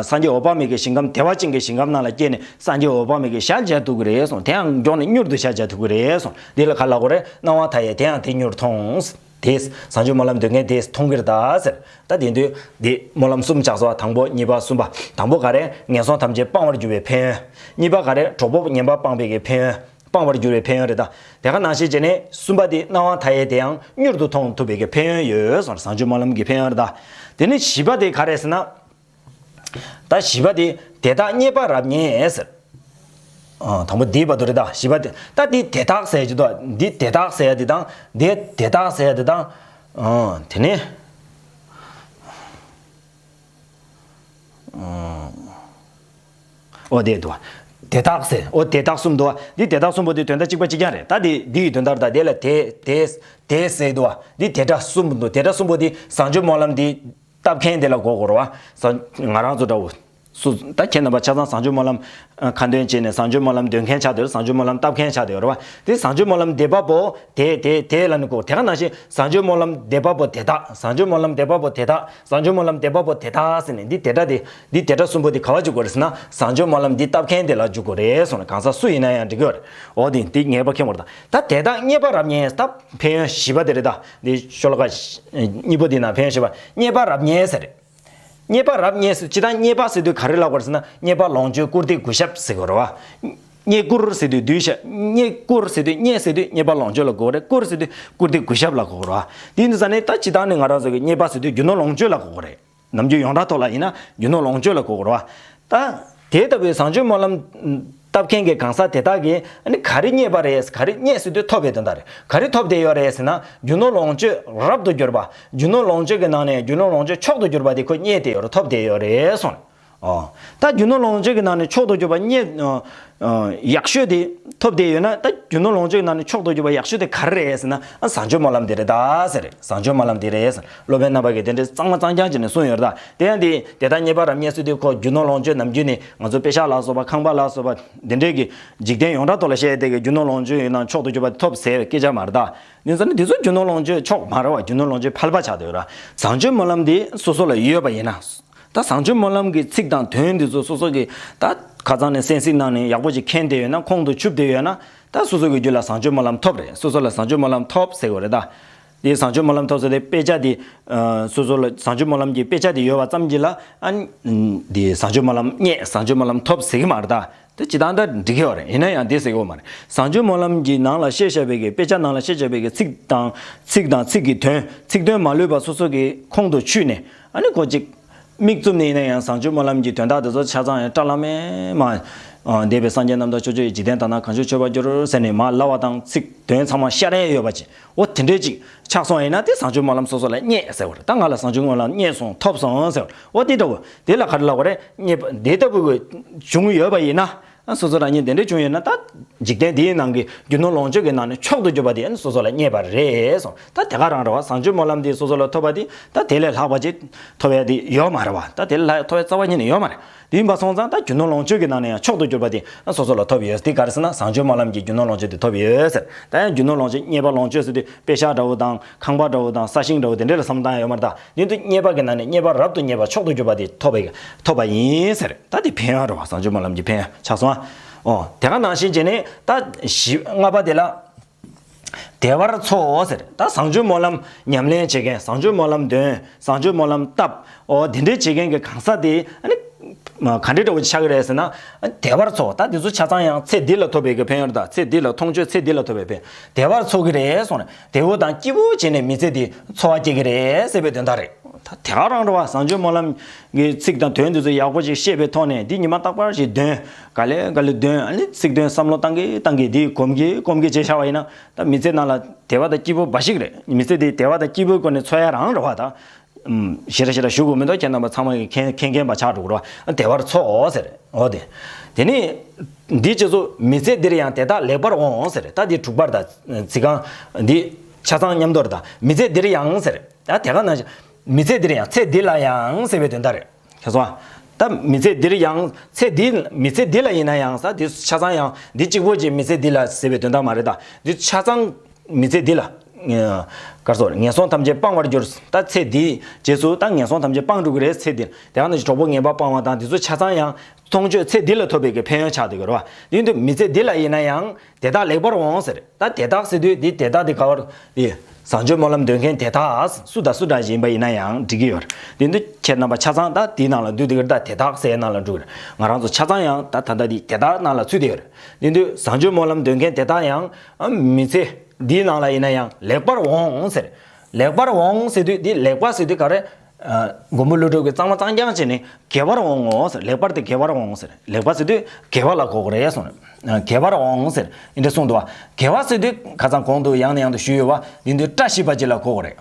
སངས་རྒྱས་འོད་དཔག་མེད་ཀྱི་ཞིང་ཁམས་བདེ་བ་ཅན་གྱི་ཞིང་ཁམས་ནང་ལ་སྐྱེས་ནས་སངས་རྒྱས་འོད་དཔག་མེད་ཀྱི་ཞག་མཇལ་ཐུབ་ཀྱི་རེད་གསུངས་དེའང་མགྱོགས་ནས་མྱུར་དུ་ཞག་མཇལ་ཐུབ་ཀྱི་རེད་གསུངས་འདི་ལ་ག་ལ་གོ་རེ་སྣང་བ་མཐའ་ཡས་དེའང་དེ་མྱུར་མཐོང། དེས་བཟང་སྤྱོད་སྨོན་ལམ་འདོད་མཁན་དེས་མཐོང་གིར་གདའ་ཟེར། ད་དེ་དུས། འདི་སྨོན་ལམ་གསུམ་ཆགས་སོ་དང་པོ་གཉིས་པ་གསུམ་པ། དང་པོ་ག་རེ་ངན་སོང་ཐམས་ཅད་སྤང་བར་འགྱུར་བའི་ཕན་ཡོན། གཉིས་པ་ག་རེ་གྲོགས་པོ་ངན་པ་སྤངས་པའི་ཕན་ཡོན། སྤང་བར་འགྱུར་བའི་ཕན་ཡོན་རེ་ད་དེ་ག་ནང་བཤད་བྱས་ནས་གསུམ་པ་དེ་སྣང་བ་མཐའ་ཡས་དེའང་མྱུར་དུ་མཐོང་ཐུབ་པའི་ཕན་ཡོན་ཡོད་བཟང་སྤྱོད་སྨོན་ལམ་གྱི་ཕན་ཡོན་རེ་ད། དེ་ནི་བཞི་པ་དེ་ག་རེད་ཟེར་ན། ད་བཞི་པ་དེ་དེ་དག་རྙེད་པར་རབ་ཉེ་ཟེར། དང་པོ་འདིའི་བར་དུ་རེ་ད་བཞི་པ་དེ་ད་འདི་དེ་དག་ཟེར་ཡ་འདི་དེ་དག་ཟེར་ཡ་དེ་དང་དེ་དེ་དག་ཟེར་ཡ་དེ་དང། དེ་ནི། ཨོ་དེས་དུ། དེ་དག་ཟེར། ཨོ་དེ་དག་གསུམ་དུ། འདི་དེ་དག་གསུམ་པོ་དེ་དོན་དག་གཅིག་པ་གཅིག་ཀྱང་རེད། ད་དེ་འདི་ཡི་དོན་ལྟར་དང་དེ་ལ་དེ། དེས། དེ་ཟེར་དུ། འདི་དེ་དག་གསུམ་པོ་དུ་དེ་དག་གསུམ་པོ་དེ་བཟང་སྤྱོད་སྨོན་ལམ་དེ། བཏབ་མཁན་དེ་ལ་མགོ་བསྐོར་བ། བཟང། ང་རང་ཚོ་འདྲ་བོ། སུ། ད་ཁྱེད་རྣམ་པ་ཆ་ཚང་བཟང་སྤྱོད་སྨོན་ལམ། ཁ་འདོན་བྱེད་ནས་བཟང་སྤྱོད་སྨོན་ལམ་འདོན་མཁན་ཆགས་དེ་རུ་བཟང་སྤྱོད་སྨོན་ལམ་བཏབ་མཁན་ཆགས་དེ་རུ། དེ་བཟང་སྤྱོད་སྨོན་ལམ་དེ་པ་པོ། དེ་དེ་དེ་ལ་ནི་གོ། དེ་ག་ནང་བཞིན་བཟང་སྤྱོད་སྨོན་ལམ་དེ་པ་པོ་དེ་དག་བཟང་སྤྱོད་སྨོན་ལམ་དེ་པ་པོ་དེ་དག་བཟང་སྤྱོད་སྨོན་ལམ་དེ་པ་པོ་དེ་དག་ཟེར་ནས་འདི་དེ་འདྲ་དེ་འདི་དེ་འདྲ་གསུམ་པོ་འདི་ག་བ་འཇུག་དགོས་རེད་ཟེར་ན་བཟང་སྤྱོད་སྨོན་ལམ་འདི་བཏབ་མཁན་དེ་ལ་འཇུག་དགོས་རེད་གསུངས་ན་གང་ཟག་སུ་ཡིན་ན་ཡང་འགྲིག་གི་རེད་འོ་དེ་འདི་ངེས་པ་མཁན་པོ་རེད་ད་ད་དེ་དག་རྙེད་པ་རབ་རྙེད་ད་ཕན་ཡོན་བཞི་པ་དེ་རེད་ད་འདི་ཤོ་ལོ་ཀ་གཉིས་པོ་འདི་ན་ཕན་ཡོན་བཞི་པ་རྙེད་པ་རབ་རྙེད་ཟེར་རེད་རྙེད་པ་རབ་རྙེད་ཟེར་ཅི་ད་རྙེད་པ་ཟེར་དུས་ག་རེ་ལབ་དགོས་རེད་ཟེར་ན་རྙེད་པ་ལོངས་སྤྱོད་བཀུར་སྟི་གུས་ཞབས་ཟེར་དགོས་རེད་བ། རྙེད་བཀུར་ཟེར་དུས་གདུལ་བྱ་རྙེད། བཀུར་ཟེར་དུས་རྙེད་ཟེར་དུས་རྙེད་པ་ལོངས་སྤྱོད་ལ་དགོས་རེད། བཀུར་ཟེར་དུས་བཀུར་སྟི་གུས་ཞབས་ལ་དགོས་རོ། དེ་ནི་ས་ནི་ད་ཇི་ལྟར་ནི་ང་རང་ཟེར་གི་རྙེད་པ་ཟེར་དུས་རྒྱུ་ནོར་ལོངས་སྤྱོད་ལ་དགོས་རྒོ་རེད། ནམ་རྒྱུན་ཡོངས་གྲགས་ཐོག་ལ་ཡིན་ན་རྒྱུ་ནོར་ལོངས་སྤྱོད་ལ་དགོས་རྒོ་རོ། ད། དེ་ལྟ་བུའི་བཟང་སྤྱོད་སྨོན་ལམ། བཏབ་མཁན་གྱི་གང་ཟག་དེ་དག་གིས་ནི་ག་རི་རྙེད་པ་རེད་ག་རི་རྙེད་ཟེར་དུས་ཐོབ་པའི་དོན་དག་རེད། ག་རི་ཐོབ་བསྡད་ཡོད་རེད་ཟེར་ན་རྒྱུ་ནོར་ལོངས་སྤྱོད་རབ་ཏུ་གྱུར་པ། རྒྱུ་ནོར་ལོངས་སྤྱོད་ཀྱི་ནང་ནས་རྒྱུ་ནོར་ལོངས་སྤྱོད་མཆོག་ཏུ་གྱུར་པ་དེ་ཁོས་རྙེད་བསྡད་ཡོད་རེད་ཐོབ་བསྡད་ཡོད་རེད་སོང་རེད། ད་རྒྱུ་ནོར་ལོངས་སྤྱོད་ཀྱི་ནང་ནས་མཆོག་ཏུ་གྱུར་པ་རྙེད། ཡག་ཤོས་དེ་ཐོབ་བསྡད་ཡོད་ན་ད་རྒྱུ་ནོར་ལོངས་སྤྱོད་ཀྱི་ནང་ནས་མཆོག་ཏུ་གྱུར་པ་ཡག་ཤོས་དེ་ག་རེ་རེད་ཟེར་ན། ཨ་བཟང་སྤྱོད་སྨོན་ལམ་དེ་རེད་ད་ཟེར། རེད་བཟང་སྤྱོད་སྨོན་ལམ་དེ་རེད་ཟེར། སློབ་དཔོན་རྣམ་པ་གིས་དེ་འདྲའི་གཙང་མ་གཙང་རྐྱང་བྱས་ནས་གསུངས་ཡོད་རེད་ད། དེ་ཡང་དེ་དེ་ལྟར་རྙེད་པ་རམ་རྙེད་སྲོལ་དེ་ཁོ་རྒྱུ་ནོར་ལོངས་སྤྱོད་ནམ་རྒྱུན་ནས་ང་ཚོ་དཔེ་ཤག་ལ་སོགས་པ་ཁང་པ་ལ་སོགས་པ་འདི་འདྲའི་གི་འཇིག་རྟེན་ཡོངས་གྲགས་ཐོག་ལ་བཤད་བསྡད་གི་རྒྱུ་ནོར་ལོངས་སྤྱོད་ཡོད་ན་མཆོག་ཏུ་གྱུར་པ་དེ་ཐོབ་ཟེར་སྐད་ཆ་མ་རེད་ད། ནུས་ཚོད་ནི་དེ་ཚོ་རྒྱུ་ནོར་ལོངས་སྤྱོད་མཆོག་མ་རེད་བ་རྒྱུ་ནོར་ལོངས་སྤྱོད་ཕལ་པ་ཆགས་འདུག་རེད་བཟང་སྤྱོད་སྨོན་ལམ་དེ་སོ་སོ་ལ་ཡོད་པ་ཡིན་ན། ད་བཟང་སྤྱོད་སྨོན་ལམ་གྱི་ཚིག་དང་དོན་འདི་ཚོ་སོ་སོ་གི་ད་ཁ་ཚང་ནས་གསན་གཟིགས་གནང་ནས་ཡག་པོ་ཞིག་མཁྱེན་བསྡད་ཡོད་ན་ཁོང་དུ་ཆུབ་བསྡད་ཡོད་ན་ད་སོ་སོ་གི་རྒྱུད་ལ་བཟང་སྤྱོད་སྨོན་ལམ་ཐོབ་རེད་སོ་སོ་ལ་བཟང་སྤྱོད་སྨོན་ལམ་ཐོབ་ཟེར་གི་རེད་ད། དེ་བཟང་སྤྱོད་སྨོན་ལམ་ཐོབ་ཟེར་དེ་དཔེ་ཆ་དེ། སོ་སོ་ལ་བཟང་སྤྱོད་སྨོན་ལམ་གྱི་དཔེ་ཆ་དེ་ཡོད་པ་ཙམ་གྱིས་ལ། དེ་བཟང་སྤྱོད་སྨོན་ལམ་རྙེད་བཟང་སྤྱོད་སྨོན་ལམ་ཐོབ་ཟེར་གི་མ་རེད་ད། དེ་ཇི་ལྟར་འདྲ་འདྲི་གི་བ་རེད་ཡིན་ན་ཡང་དེ་ཟེར་གི་བ་མ་རེད་བཟང་སྤྱོད་སྨོན་ལམ་གྱི་ནང་ལ་བཤད་བྱ་བའི་གི་དཔེ་ཆ་ནང་ལ་བཤད་བྱ་བའི་གི་ཚིག་དང་ཚིག་དང་ཚིག་གི་དོན་ཚིག་དོན་མ་ལུས་པ་སོ་སོ་གི་ཁོང་དུ་ཆུད་ནས་ཨ་ནི་གོ་ཅིག། མིག་བཙུམ་ནས་ཡིན་ན་ཡང་བཟང་སྤྱོད་སྨོན་ལམ་གྱི་དོན་དག་དེ་ཚོ་ཆ་ཚང་ཡང་བཀྲ་བླ་མའི་མ། འདས་པའི་སངས་རྒྱས་རྣམ་དག་ཆོས་སྤྱོད་ཡི་འཇིག་རྟེན་དག་ན་གང་བྱོས་ཆོས་པར་འགྱུར་ཟེར་ནས་མ་ལ་བ་དང་ཚིག་དོན་ཚང་མ་ཤ་རེ་ཡོད་པ་ཅིག་འོ་དེ་འདྲའི་ཅིག་ཆགས་སོང་ཡིན་ན་དེ་བཟང་སྤྱོད་སྨོན་ལམ་སོ་སོ་ལ་བརྙེད་ཟེར་བར་ད་ང་ལ་བཟང་སྤྱོད་སྨོན་ལམ་བརྙེད་སོང་ཐོབ་སོང་ཟེར་བར་འོ་དེ་འདྲ་བོ་དེ་ལ་ག་རེ་ལ་བ་རེ་བརྙེད་པ་འདི་ལྟ་བུ་གི་བྱུང་ཡོད་པ་ཡིན་ན་སོ་སོ་རང་ཉིད་དེ་འདྲ་བྱུང་ཡོད་ན་ད་འཇིག་རྟེན་འདིའི་ནང་གི་རྒྱུ་ནོར་ལོངས་སྤྱོད་ཀྱི་ནང་ནས་མཆོག་ཏུ་གྱུར་པ་དེ་སོ་སོ་ལ་བརྙེད་པ་རེད་སོང་ད་དེ་ག་རང་རེད་བ་བཟང་སྤྱོད་སྨོན་ལམ་འདི་སོ་སོ་ལ་ཐོབ་པ་དེ་ད་དེ་ལས་ལྷག་པ་ཅིག་ཐོབ་ཡ་དེ་ཡོད་མ་རེད་བ་ད་དེ་ལས་ལྷག་ཡ་ཐོབ་ཡ་རྩ་བ་ཉིད་ནས་ཡོད་མ་རེད། བདུན་པ་སོང་ཙང་ད་རྒྱུ་ནོར་ལོངས་སྤྱོད་ཀྱི་ནང་ནས་ཡང་མཆོག་ཏུ་གྱུར་པ་དེ་ཡང་སོ་སོ་ལ་ཐོབ་ཡོད་དེ་ག་རེ་ཟེར་ན་བཟང་སྤྱོད་སྨོན་ལམ་གྱི་རྒྱུ་ནོར་ལོངས་སྤྱོད་དེ་ཐོབ་ཡོད་ཟེར་ད་ཡང་རྒྱུ་ནོར་ལོངས་སྤྱོད་རྙེད་པ་ལོངས་སྤྱོད་ཟེར་དུས་དཔེ་ཤག་འདྲ་བོ་དང་ཁང་པ་འདྲ་བོ་དང་ས་ཞིང་འདྲ་བོ་དེ་འདྲ་ལ་བསམ་སྟངས་ཡོད་མ་རེད་ད་དོན་དུ་རྙེད་པ་གྱི་ནང་ནས་རྙེད་པ་རབ་ཏུ་རྙེད་པ་མཆོག་ཏུ་གྱུར་པ་དེ་ཐོབ་ཐོབ་པ་ཡིན་ཟེར་ད་དེ་ཕན་ཡོན་རེད་བ་བཟང་སྤྱོད་སྨོན་ལམ་གྱི་ཕན་ཡོན་ཆགས་སོང་ཨ་འོ་དེ་ག་ནང་བཞིན་བྱས་ནས་ད་བཞི་ལྔ་པ་དེ་ལ། བདེ་བར་འཚོ་འོ་ཟེར། ད་བཟང་སྤྱོད་སྨོན་ལམ་ཉམས་ལེན་བྱེད་མཁན་བཟང་སྤྱོད་སྨོན་ལམ་འདོན། བཟང་སྤྱོད་སྨོན་ལམ་བཏབ། འོ་དེ་འདྲའི་བྱེད་མཁན་གྱི་གང་ཟག་དེ། ག་འདྲའི་དྲ་བོ་ཆགས་ཀྱི་རེད་ཟེར་ན། བདེ་བར་འཚོ་ད་དེ་ཚོ་ཆ་ཚང་ཡང་ཚེ་འདི་ལ་ཐོབ་པའི་གི་ཕན་ཡོན་དང་ཚེ་འདི་ལ་མཐོང་ཆོས་ཚེ་འདི་ལ་ཐོབ་པའི་ཕན། བདེ་བར་འཚོ་གི་རེད་སོང་ནས་བདེ་བོ་དང་སྐྱིད་པོ་བྱས་ནས་མི་ཚེ་འདི་འཚོ་བ་སྐྱེལ་གྱི་རེད་ཟེར་བའི་དོན་དག་རེད། ད་དེ་ག་རང་འགྲོ་བ་བཟང་སྤྱོད་སྨོན་ལམ་གྱི་ཚིག་དང་དོན་དེ་ཚོ་ཡག་པོ་ཞིག་ཤེས་པའི་ཐོག་ནས་འདི་ཉི་མ་རྟག་པར་ཞིག་འདོན། ག་ལེ་ག་ལེ་དོན་ཨ་ལེ་ཚིག་དོན་བསམ་བློ་བཏང་གི་བཏང་གི་དེ་གོམས་གི་གོམས་གི་ཅེས་བྱ་བ་ཡིན་ན་ད་མི་ཚེ་ནང་ལ་དལ་བ་དང་སྐྱིད་པོ་འབའ་ཞིག་རེད་མི་ཚེ་དེ་དལ་བ་དང་སྐྱིད་པོའི་སྒོ་ནས་འཚོལ་ཡ་རང་རེད་བ་ད། ཞེ་ར་ཞེ་ར་ཞུ་དགོས་མི་འདུག་ཁྱེད་རྣམ་པ་ཚང་མ་གིས་མཁྱེན་མཁྱེན་པ་ཆགས་འགྲོ་དགོས་རེད་བ་དལ་བར་འཚོ་འོང་ཟེར་འོ་དེ། དེ་ནས་འདི་སྤྱི་ཚོགས་མི་ཚེ་འདིར་ཡང་དེ་དག་ལེགས་པར་འོང་འོང་ཟེར་ད་འདི་དྲུག་པར་ད་ཚིག་རྐང་འདི་ཆ་ཚང་མཉམ་དོར་ད་མི་ཚེ་འདིར་ཡང་ཟེར་ད་དེ་ག་ན། མི་ཚེ་འདིར་ཡང་ཚེ་འདི་ལ་ཡང་ཟེར་བའི་དོན་ད་རེད། ཁྱེད་སོང། ད་མི་ཚེ་འདིར་ཡང། ཚེ་འདི། མི་ཚེ་འདི་ལ་ཡིན་ན་ཡང་ཟ་འདི་ཆ་ཚང་ཡང། འདི་གཅིག་པོ་གཅིག་མི་ཚེ་འདི་ལ་ཟེར་བའི་དོན་དག་མ་རེད་ད། འདི་ཆ་ཚང། མི་ཚེ་འདི་ལ། སྐར་ཚོགས། ངན་སོང་ཐམས་ཅད་སྤང་བར་འགྱུར། ད་ཚེ་འདིའི། རྗེས་སུ་ད་ངན་སོང་ཐམས་ཅད་སྤང་འགྲོ་གི་རེད་ཚེ་འདིར། དེ་གང་ནས་ཀྱི་གྲོགས་པོ་ངན་པ་སྤང་བ་དང་འདི་ཚོ་ཆ་ཚང་ཡང། མཐོང་ཆོས་ཚེ་འདི་ལ་ཐོབ་པའི་གི་ཕན་ཡོན་ཆགས་འདུག་གི་རེད་བ། དེ་བཞིན་དུ་མི་ཚེ་འདི་ལ་ཡིན་ན་ཡང། དེ་དག་ལེགས་པར་འོང་ཟེར། ད་དེ་དག་ཟེར་དུས་འདི་དེ་དག་དེ་ག་བར། དེས་བཟང་སྤྱོད་སྨོན་ལམ་འདོན་མཁན་དེ་དག་སུ་དང་སུ་འདྲ་ཞིག་ཡིན་པ་ཡིན་ན་ཡང་འགྲིག་གི་ཡོད། དེ་འདུ་ཁྱེད་རྣམ་པ་ཆ་ཚང་ད་དེའི་ནང་ལ་འདུས་ཏེ་གིར་ད་དེ་དག་སའི་ནང་ལ་འདུ་གིར་ང་རང་ཚོ་ཆ་ཚང་ཡང་ད་ད་ལྟ་འདི་དེ་དག་ནང་ལ་ཚུད་དེ་ཡོད། དེ་འདུ་བཟང་སྤྱོད་སྨོན་ལམ་འདོན་མཁན་དེ་དག་ཡང། མི་ཚེ་འདིའི་ནང་ལ་ཡིན་ན་ཡང་ལེགས་པར་འོང་ཟེར། ལེགས་པར་འོང་ཟེར་དུས་འདི་ལེགས་པ་ཟེར་དུས་ག་རེ། མགོན་པོ་ཀླུ་སྒྲུབ་ཀྱིས་གཙང་མ་གཙང་རྐྱང་བྱས་ནས་དགེ་བར་འོང་ངོ་ཟེར་ལེགས་པར་དེ་དགེ་བར་འོང་ཟེར་ལེགས་པར་བྱས་དུས་དགེ་བ་ལ་གོག་རེ་སོང་དགེ་བར་འོང་ཟེར་འདི་འདྲ་གསུངས་འདུག་བ་དགེ་བ་བྱས་དུས་ཁ་ཚང་གོང་དུ་ཡང་ནས་ཡང་དུ་ཞུས་ཡོད་བ་འདི་འདི་བཀྲ་ཤིས་པ་གཅིག་ལ་གོག་རེ།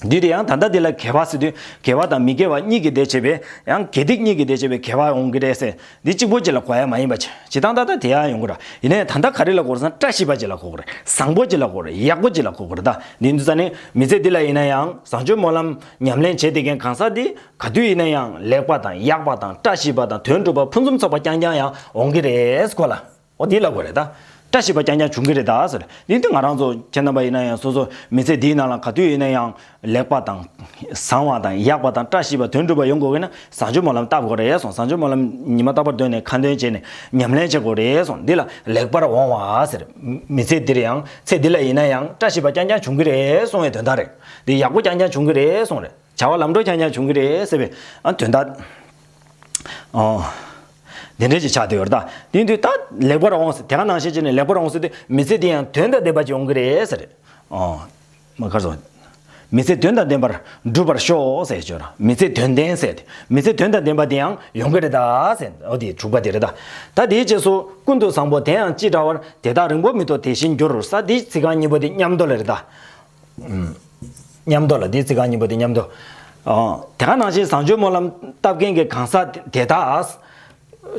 དུས་དེ་ཡང་ད་ལྟ་འདི་ལ་དགེ་བ་བྱས་དུས་དགེ་བ་དང་མི་དགེ་བ་གཉིས་ཀྱི་སྡེ་བྱས་པས་ཡང་དགེ་སྡིག་གཉིས་ཀྱི་སྡེ་བྱས་པས་དགེ་བ་འོང་གི་རེད་ཟེར་འདི་གཅིག་པོ་གཅིག་ལ་གོ་ཡ་མ་ཡིན་པ་བྱེད་སྟངས་ད་ལྟ་དེ་ཡང་ཡོང་གི་རེད་ཡིན་ནའི་ད་ལྟ་ག་རེ་ལ་གོ་རེད་བསམ་བཀྲ་ཤིས་པ་གཅིག་ལ་གོ་གི་རེད་བཟང་པོ་གཅིག་ལ་གོ་གི་རེད་ཡག་པོ་གཅིག་ལ་གོ་གི་རེད་ད་འདི་འདུག་ས་ནི་མི་ཚེ་འདི་ལ་ཡིན་ན་ཡང་བཟང་སྤྱོད་སྨོན་ལམ་ཉམས་ལེན་བྱེད་བསྡད་མཁན་གང་ཟག་འདི་ག་དུས་ཡིན་ན་ཡང་ལེགས་པ་དང་ཡག་པ་དང་བཀྲ་ཤིས་པ་དང་དོན་གྲུབ་པ་ཕུན་སུམ་ཚོགས་པ་རྐྱང་རྐྱང་ཡང་འོང་གི་རེད་གོ་ལ། ཨོ་དེ་ལ་གོ་རེ་ད། བཀྲ་ཤིས་པ་རྐྱང་རྐྱང་བྱུང་གི་རེ་ད་ཟེར། ཡིན་དུས་ང་རང་ཚོ་ཁྱེད་རྣམ་པ་ཡིན་ན་ཡང་སོ་སོ་མི་ཚེ་འདིའི་ནང་ལ་ག་དུས་ཡིན་ན་ཡང་ལེགས་པ་དང། བཟང་བ་དང་ཡག་པ་དང་བཀྲ་ཤིས་པ་དོན་འགྲུབ་པ་ཡོང་དགོས་གི་ན་བཟང་སྤྱོད་སྨོན་ལམ་བཏབ་དགོས་རེ་ཟུང་བཟང་སྤྱོད་སྨོན་ལམ་ཉི་མ་རྟག་པར་འདོན་ནས་ཁ་འདོན་བྱས་ནས་ཉམས་ལེན་བྱེད་དགོས་རེ་ཟུང་འདི་ལ་ལེགས་པར་འོང་བ་ཟེར། མི་ཚེ་འདིར་ཡང་ཚེ་འདི་ལ་ཡིན་ན་ཡང་བཀྲ་ཤིས་པ་རྐྱང་རྐྱང་བྱུང་གི་རེ་ཟུང་བའི་དོན་དག་རེད། འདི་ཡག་པོ་རྐྱང་རྐྱང་བྱུང་གི་རེ་ཟུང་རེད། བྱ་བ་ལམ་འགྲོ་རྐྱང་རྐྱང་བྱུང་གི་རེད་ཟེར་བའི་དོན་དག། དེ་འདྲའི་ཞིག་ཆགས་བསྡད་ཡོད་རེད་ད། དེ་དུས་ད་ལེགས་པར་འོང་ཟེར་དེ་ག་ནང་བཤད་བྱས་ནས་ལེགས་པར་འོང་ཟེར་དུས་མི་ཚེ་དེ་ཡང་དོན་དང་ལྡན་པ་ཅིག་འོང་གི་རེད་ཟེར། མ་ག་ཟོ། མི་ཚེ་དོན་དང་ལྡན་པར་འགྲུབ་པར་ཤོག་ཟེར་བྱས་ར། མི་ཚེ་དོན་ལྡན་ཟེར་དེ། མི་ཚེ་དོན་དང་ལྡན་པ་དེ་ཡང་ཡོང་གི་རེད་ད་ཟེར་འོ་དེ་དྲུག་པ་དེ་རེད་ད། ད་དེའི་རྗེས་སུ་ཀུན་ཏུ་བཟང་པོ་དེའང་ཅི་འདྲ་བར་དེ་དག་རིང་པོ་མི་ཐོག་དེ་བཞིན་འགྱུར་ས་དེའི་ཚིག་རྐང་གཉིས་པོ་དེ་མཉམ་འདོགས་ལེ་རེད་ད། ཉམས་རྟོགས་ལ་དེའི་ཚིག་རྐང་གཉིས་པོ་དེ་ཉམས་རྟོགས། དེ་ག་ནང་བཞིན་བཟང་སྤྱོད་སྨོན་ལམ་བཏབ་མཁན་གྱི་གང་ཟག་དེ་དག།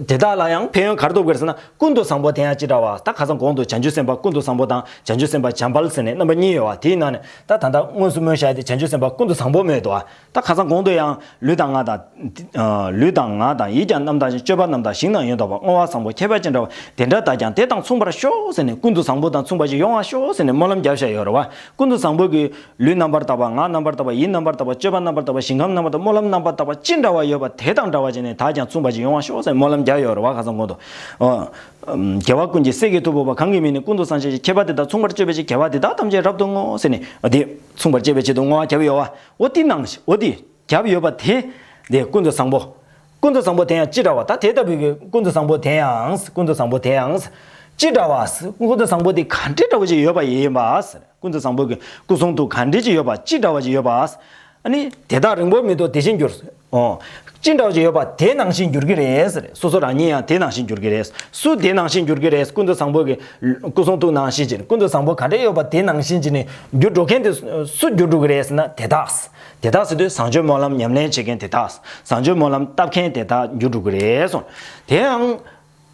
དེ་དག་ལ་ཡང་ཕན་ཡོན་ག་རེ་ཐོབ་དགོས་ཟེར་ན་ཀུན་ཏུ་བཟང་པོ་དེ་ཡང་ཅི་འདྲ་བ་ད་ག་ས་གོང་དུ་བྱང་ཆུབ་སེམས་དཔའ་ཀུན་ཏུ་བཟང་པོ་དང་བྱང་ཆུབ་སེམས་དཔའ་བྱམས་པ་ལ་ཟེར་ནས་རྣམ་པ་གཉིས་ཡོད་བ་དེའི་ནང་ནས་ད་ད་ལྟ་དངོས་སུ་སྨོན་བྱ་དེ་བྱང་ཆུབ་སེམས་དཔའ་ཀུན་ཏུ་བཟང་པོ་སྨོས་ཏོ། ད་ག་ས་གོང་དུ་ཡང་ལུས་དང་ངག་དང། ལུས་དང་ངག་དང་ཡིད་ཀྱང་རྣམ་དག་ཅིང་སྤྱོད་པ་རྣམས་དང་ཞིང་དང་ཡོན་དང་བ་སྔོ་བ་བཟང་པོ་ཁྱད་པར་ཅན་འདྲ་བ་དེ་འདྲ་དག་ཀྱང་དེ་དང་མཚུངས་པར་ཤོག་ཟེར་ནས་ཀུན་ཏུ་བཟང་པོ་དང་མཚུངས་པ་ཅིག་ཡོང་བར་ཤོག་ཟེར་ནས་སྨོན་ལམ་རྒྱབ་བཞག་ཡོད་རེད་བ། ཀུན་ཏུ་བཟང་པོ་གིས། ལུས་རྣམ་པར་དག་པ་ངག་རྣམ་པར་དག་པ་ཡིད་རྣམ་པར་དག་པ་སྤྱོད་པ་རྣམ་པར་དག་པ་ཞིང་ཁམས་རྣམ་པར་དག་པ་སྨོན་ལམ་རྣམ་པར་དག་པ་ཅི་འདྲ་བ་ཡོད་པ་དེ་དང་འདྲ་བ་ཅན་ནི་དག་ཀྱང་མཚུངས་པ་ཅིག་ཡོང་བར་ཤོག་ཟེར་ནས་སྨོན་ལམ་རྒྱབ་ཡོད་རེད་བ་ག་ས་གོང་དུ། རྒྱལ་བ་ཀུན་གྱི་སྲས་ཀྱི་ཐུ་བོ་བ་གང་གི་མིང་ནི་ཀུན་ཏུ་བཟང་ཆེ་ཞིང་ཁྱད་པར་དེ་དག་མཚུངས་པར་སྤྱོད་པའི་ཕྱིར་དགེ་བ་དེ་དག་ཐམས་ཅད་རབ་ཏུ་བསྔོ་ཟེར་ནས་དེ་མཚུངས་པར་སྤྱད་པའི་ཆེད་དུ་བསྔོ་བ་རྒྱབ་ཡོད་བ། འོ་དེ་ནང་བཞིན་འོ་དེ་རྒྱབ་ཡོད་པ་དེ། དེ་ཀུན་ཏུ་བཟང་པོ། ཀུན་ཏུ་བཟང་པོ་དེ་ཡང་ཅི་འདྲ་བ་ད་དེ་ལྟ་བུའི་ཀུན་ཏུ་བཟང་པོ་དེ་ཡང་ཀུན་ཏུ་བཟང་པོ་དེ་ཡང། ཅི་འདྲ་བ། ཀུན་ཏུ་བཟང་པོ་དེ་ག་འདྲེ་འདྲ་བོ་ཅིག་ཡོད་པ་ཡིན་པ། ཀུན་ཏུ་བཟང་པོ་གི་སྐུ་གསུང་ཐུགས་ག་འདྲེ་ཅིག་ཡོད་པ་ཅི་འདྲ་བ་ཅིག་ཡོད་པ། ནི། དེ་དག་རིང་པོར་མི་ཐོགས་དེ་བཞིན་འགྱུར། ཨོ། ཅི་འདྲ་བྱས་ཡོད་པ་དེ་ནང་བཞིན་འགྱུར་གྱི་རེད། སོ་སོ་རང་ཉིད་ཡང་དེ་ནང་བཞིན་འགྱུར་གྱི་རེད། སུ་དེ་ནང་བཞིན་འགྱུར་གྱི་རེད་ཀུན་ཏུ་བཟང་པོ་གི། སྐུ་གསུང་ཐུགས་ནང་བཞིན་གྱི་ཀུན་ཏུ་བཟང་པོ་ག་འདྲས་ཡོད་པ་དེ་ནང་བཞིན་གྱི་ནི་འགྱུར་འགྲོ་མཁན་དེ། སུ་འགྱུར་འགྲོ་གི་རེད་ཟེར་ན་དེ་དག། དེ་དག་ཟེར་དུས་བཟང་སྤྱོད་སྨོན་ལམ་ཉམས་ལེན་བྱེད་མཁན་དེ་དག། བཟང་སྤྱོད་སྨོན་ལམ་བཏབ་མཁན་དེ་དག་འགྱུར་འགྲོ་གི་རེད་སོང། དེའང།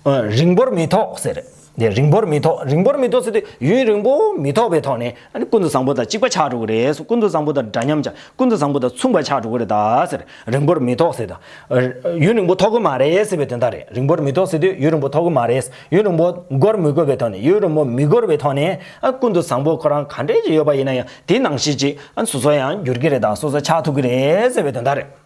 རིང་པོར་མི་ཐོགས་ཟེར། རིང་པོར་མི་ཐོགས་རིང་པོར་མི་ཐོགས་ཟེར་དུས་ཡུན་རིང་པོ་མི་ཐོགས་པའི་ཐོག་ནས་ཀུན་ཏུ་བཟང་པོ་དང་གཅིག་པ་ཆགས་འགྲོ་གི་རེད་ཟེར་ཀུན་ཏུ་བཟང་པོ་དང་འདྲ་མཉམ་ཆགས་ཀུན་ཏུ་བཟང་པོ་དང་མཚུངས་པ་ཆགས་འགྲོ་གི་རེད་ད་ཟེར་རིང་པོར་མི་ཐོགས་ཟེར་དུས་ཡུན་རིང་པོ་ཐོགས་གི་མ་རེད་ཟེར་བའི་དོན་དག་རེད་རིང་པོར་མི་ཐོགས་ཟེར་དུས་ཡུན་རིང་པོ་ཐོགས་གི་མ་རེད་ཡུན་རིང་པོ་འགོར་མི་དགོས་པའི་ཐོག་ནས་ཡུན་རིང་པོ་མི་འགོར་བའི་ཐོག་ནས་ཀུན་ཏུ་བཟང་པོ་ཁོ་རང་ག་འདྲས་ཀྱི་ཡོད་པ་ཡིན་ན་ཡང་དེའི་ནང་ཤས་ཅིག་སོ་སོ་ཡང་འགྱུར་གྱི་རེད་དང་སོ་སོ་ཆགས་ཐུབ་ཀྱི་རེད་ཟེར་བའི་དོན་དག་རེད།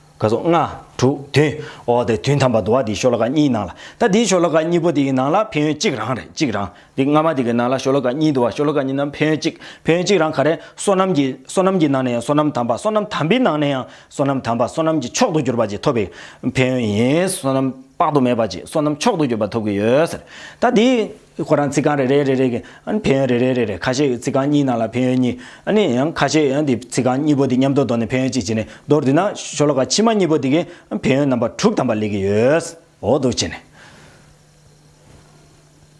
ག་སོགས་ལྔ། དྲུག་བདུན། འོ་དེ་དུས་མཐའ་མ་དུ་བ་དེའི་ཤོ་ལོ་ཀ་གཉིས་སྣང་ལ། ད་དེའི་ཤོ་ལོ་ཀ་གཉིས་པོ་དེའི་ནང་ལ་ཕན་ཡོན་གཅིག་རང་རེད་གཅིག་རང། དེ་སྔ་མ་དེ་གི་ནང་ལ་ཤོ་ལོ་ཀ་གཉིས་དུ་བ་ཤོ་ལོ་ཀ་གཉིས་ནང་ཕན་ཡོན་གཅིག་ཕན་ཡོན་གཅིག་རང་ག་རེ། བསོད་ནམས་ཀྱི། བསོད་ནམས་ཀྱི་ནང་ནས་ཡང་བསོད་ནམས་དམ་པ་བསོད་ནམས་དམ་པའི་ནང་ནས་ཡང་བསོད་ནམས་དམ་པ་བསོད་ནམས་ཀྱི་མཆོག་ཏུ་གྱུར་པ་གཅིག་ཐོབ་པའི་ཕན་ཡོན་ཡིན། བསོད་ནམས་དཔག་ཏུ་མེད་པ་གཅིག་བསོད་ནམས་མཆོག་ཏུ་གྱུར་པ་ཐོབ་ཀྱི་ཡོད། ད་དེའི། ཁོ་རང་རྩིག་རྐང་རེ་རེ་རེ་རེ་གི་ཕན་ཡོན་རེ་རེ་རེ་རེ་ཁ་ཤས་རྩིག་རྐང་གཉིས་ནང་ལ་ཕན་ཡོན་གཉིས། ཡང་ཁ་ཤས་ཡང་དེ་རྩིག་རྐང་གཉིས་པོ་དེ་མཉམ་དུ་འདོར་ནས་ཕན་ཡོན་གཅིག་བྱས་ནས་མདོར་བསྡུས་ན་ཤོ་ལོ་ཀ་ཕྱི་མ་གཉིས་པོ་དེ་གི་ཕན་ཡོན་རྣམ་པ་དྲུག་དམ་པ་ལས་ཀྱི་ཡོད་འོ་འདུག་བྱས་ནས།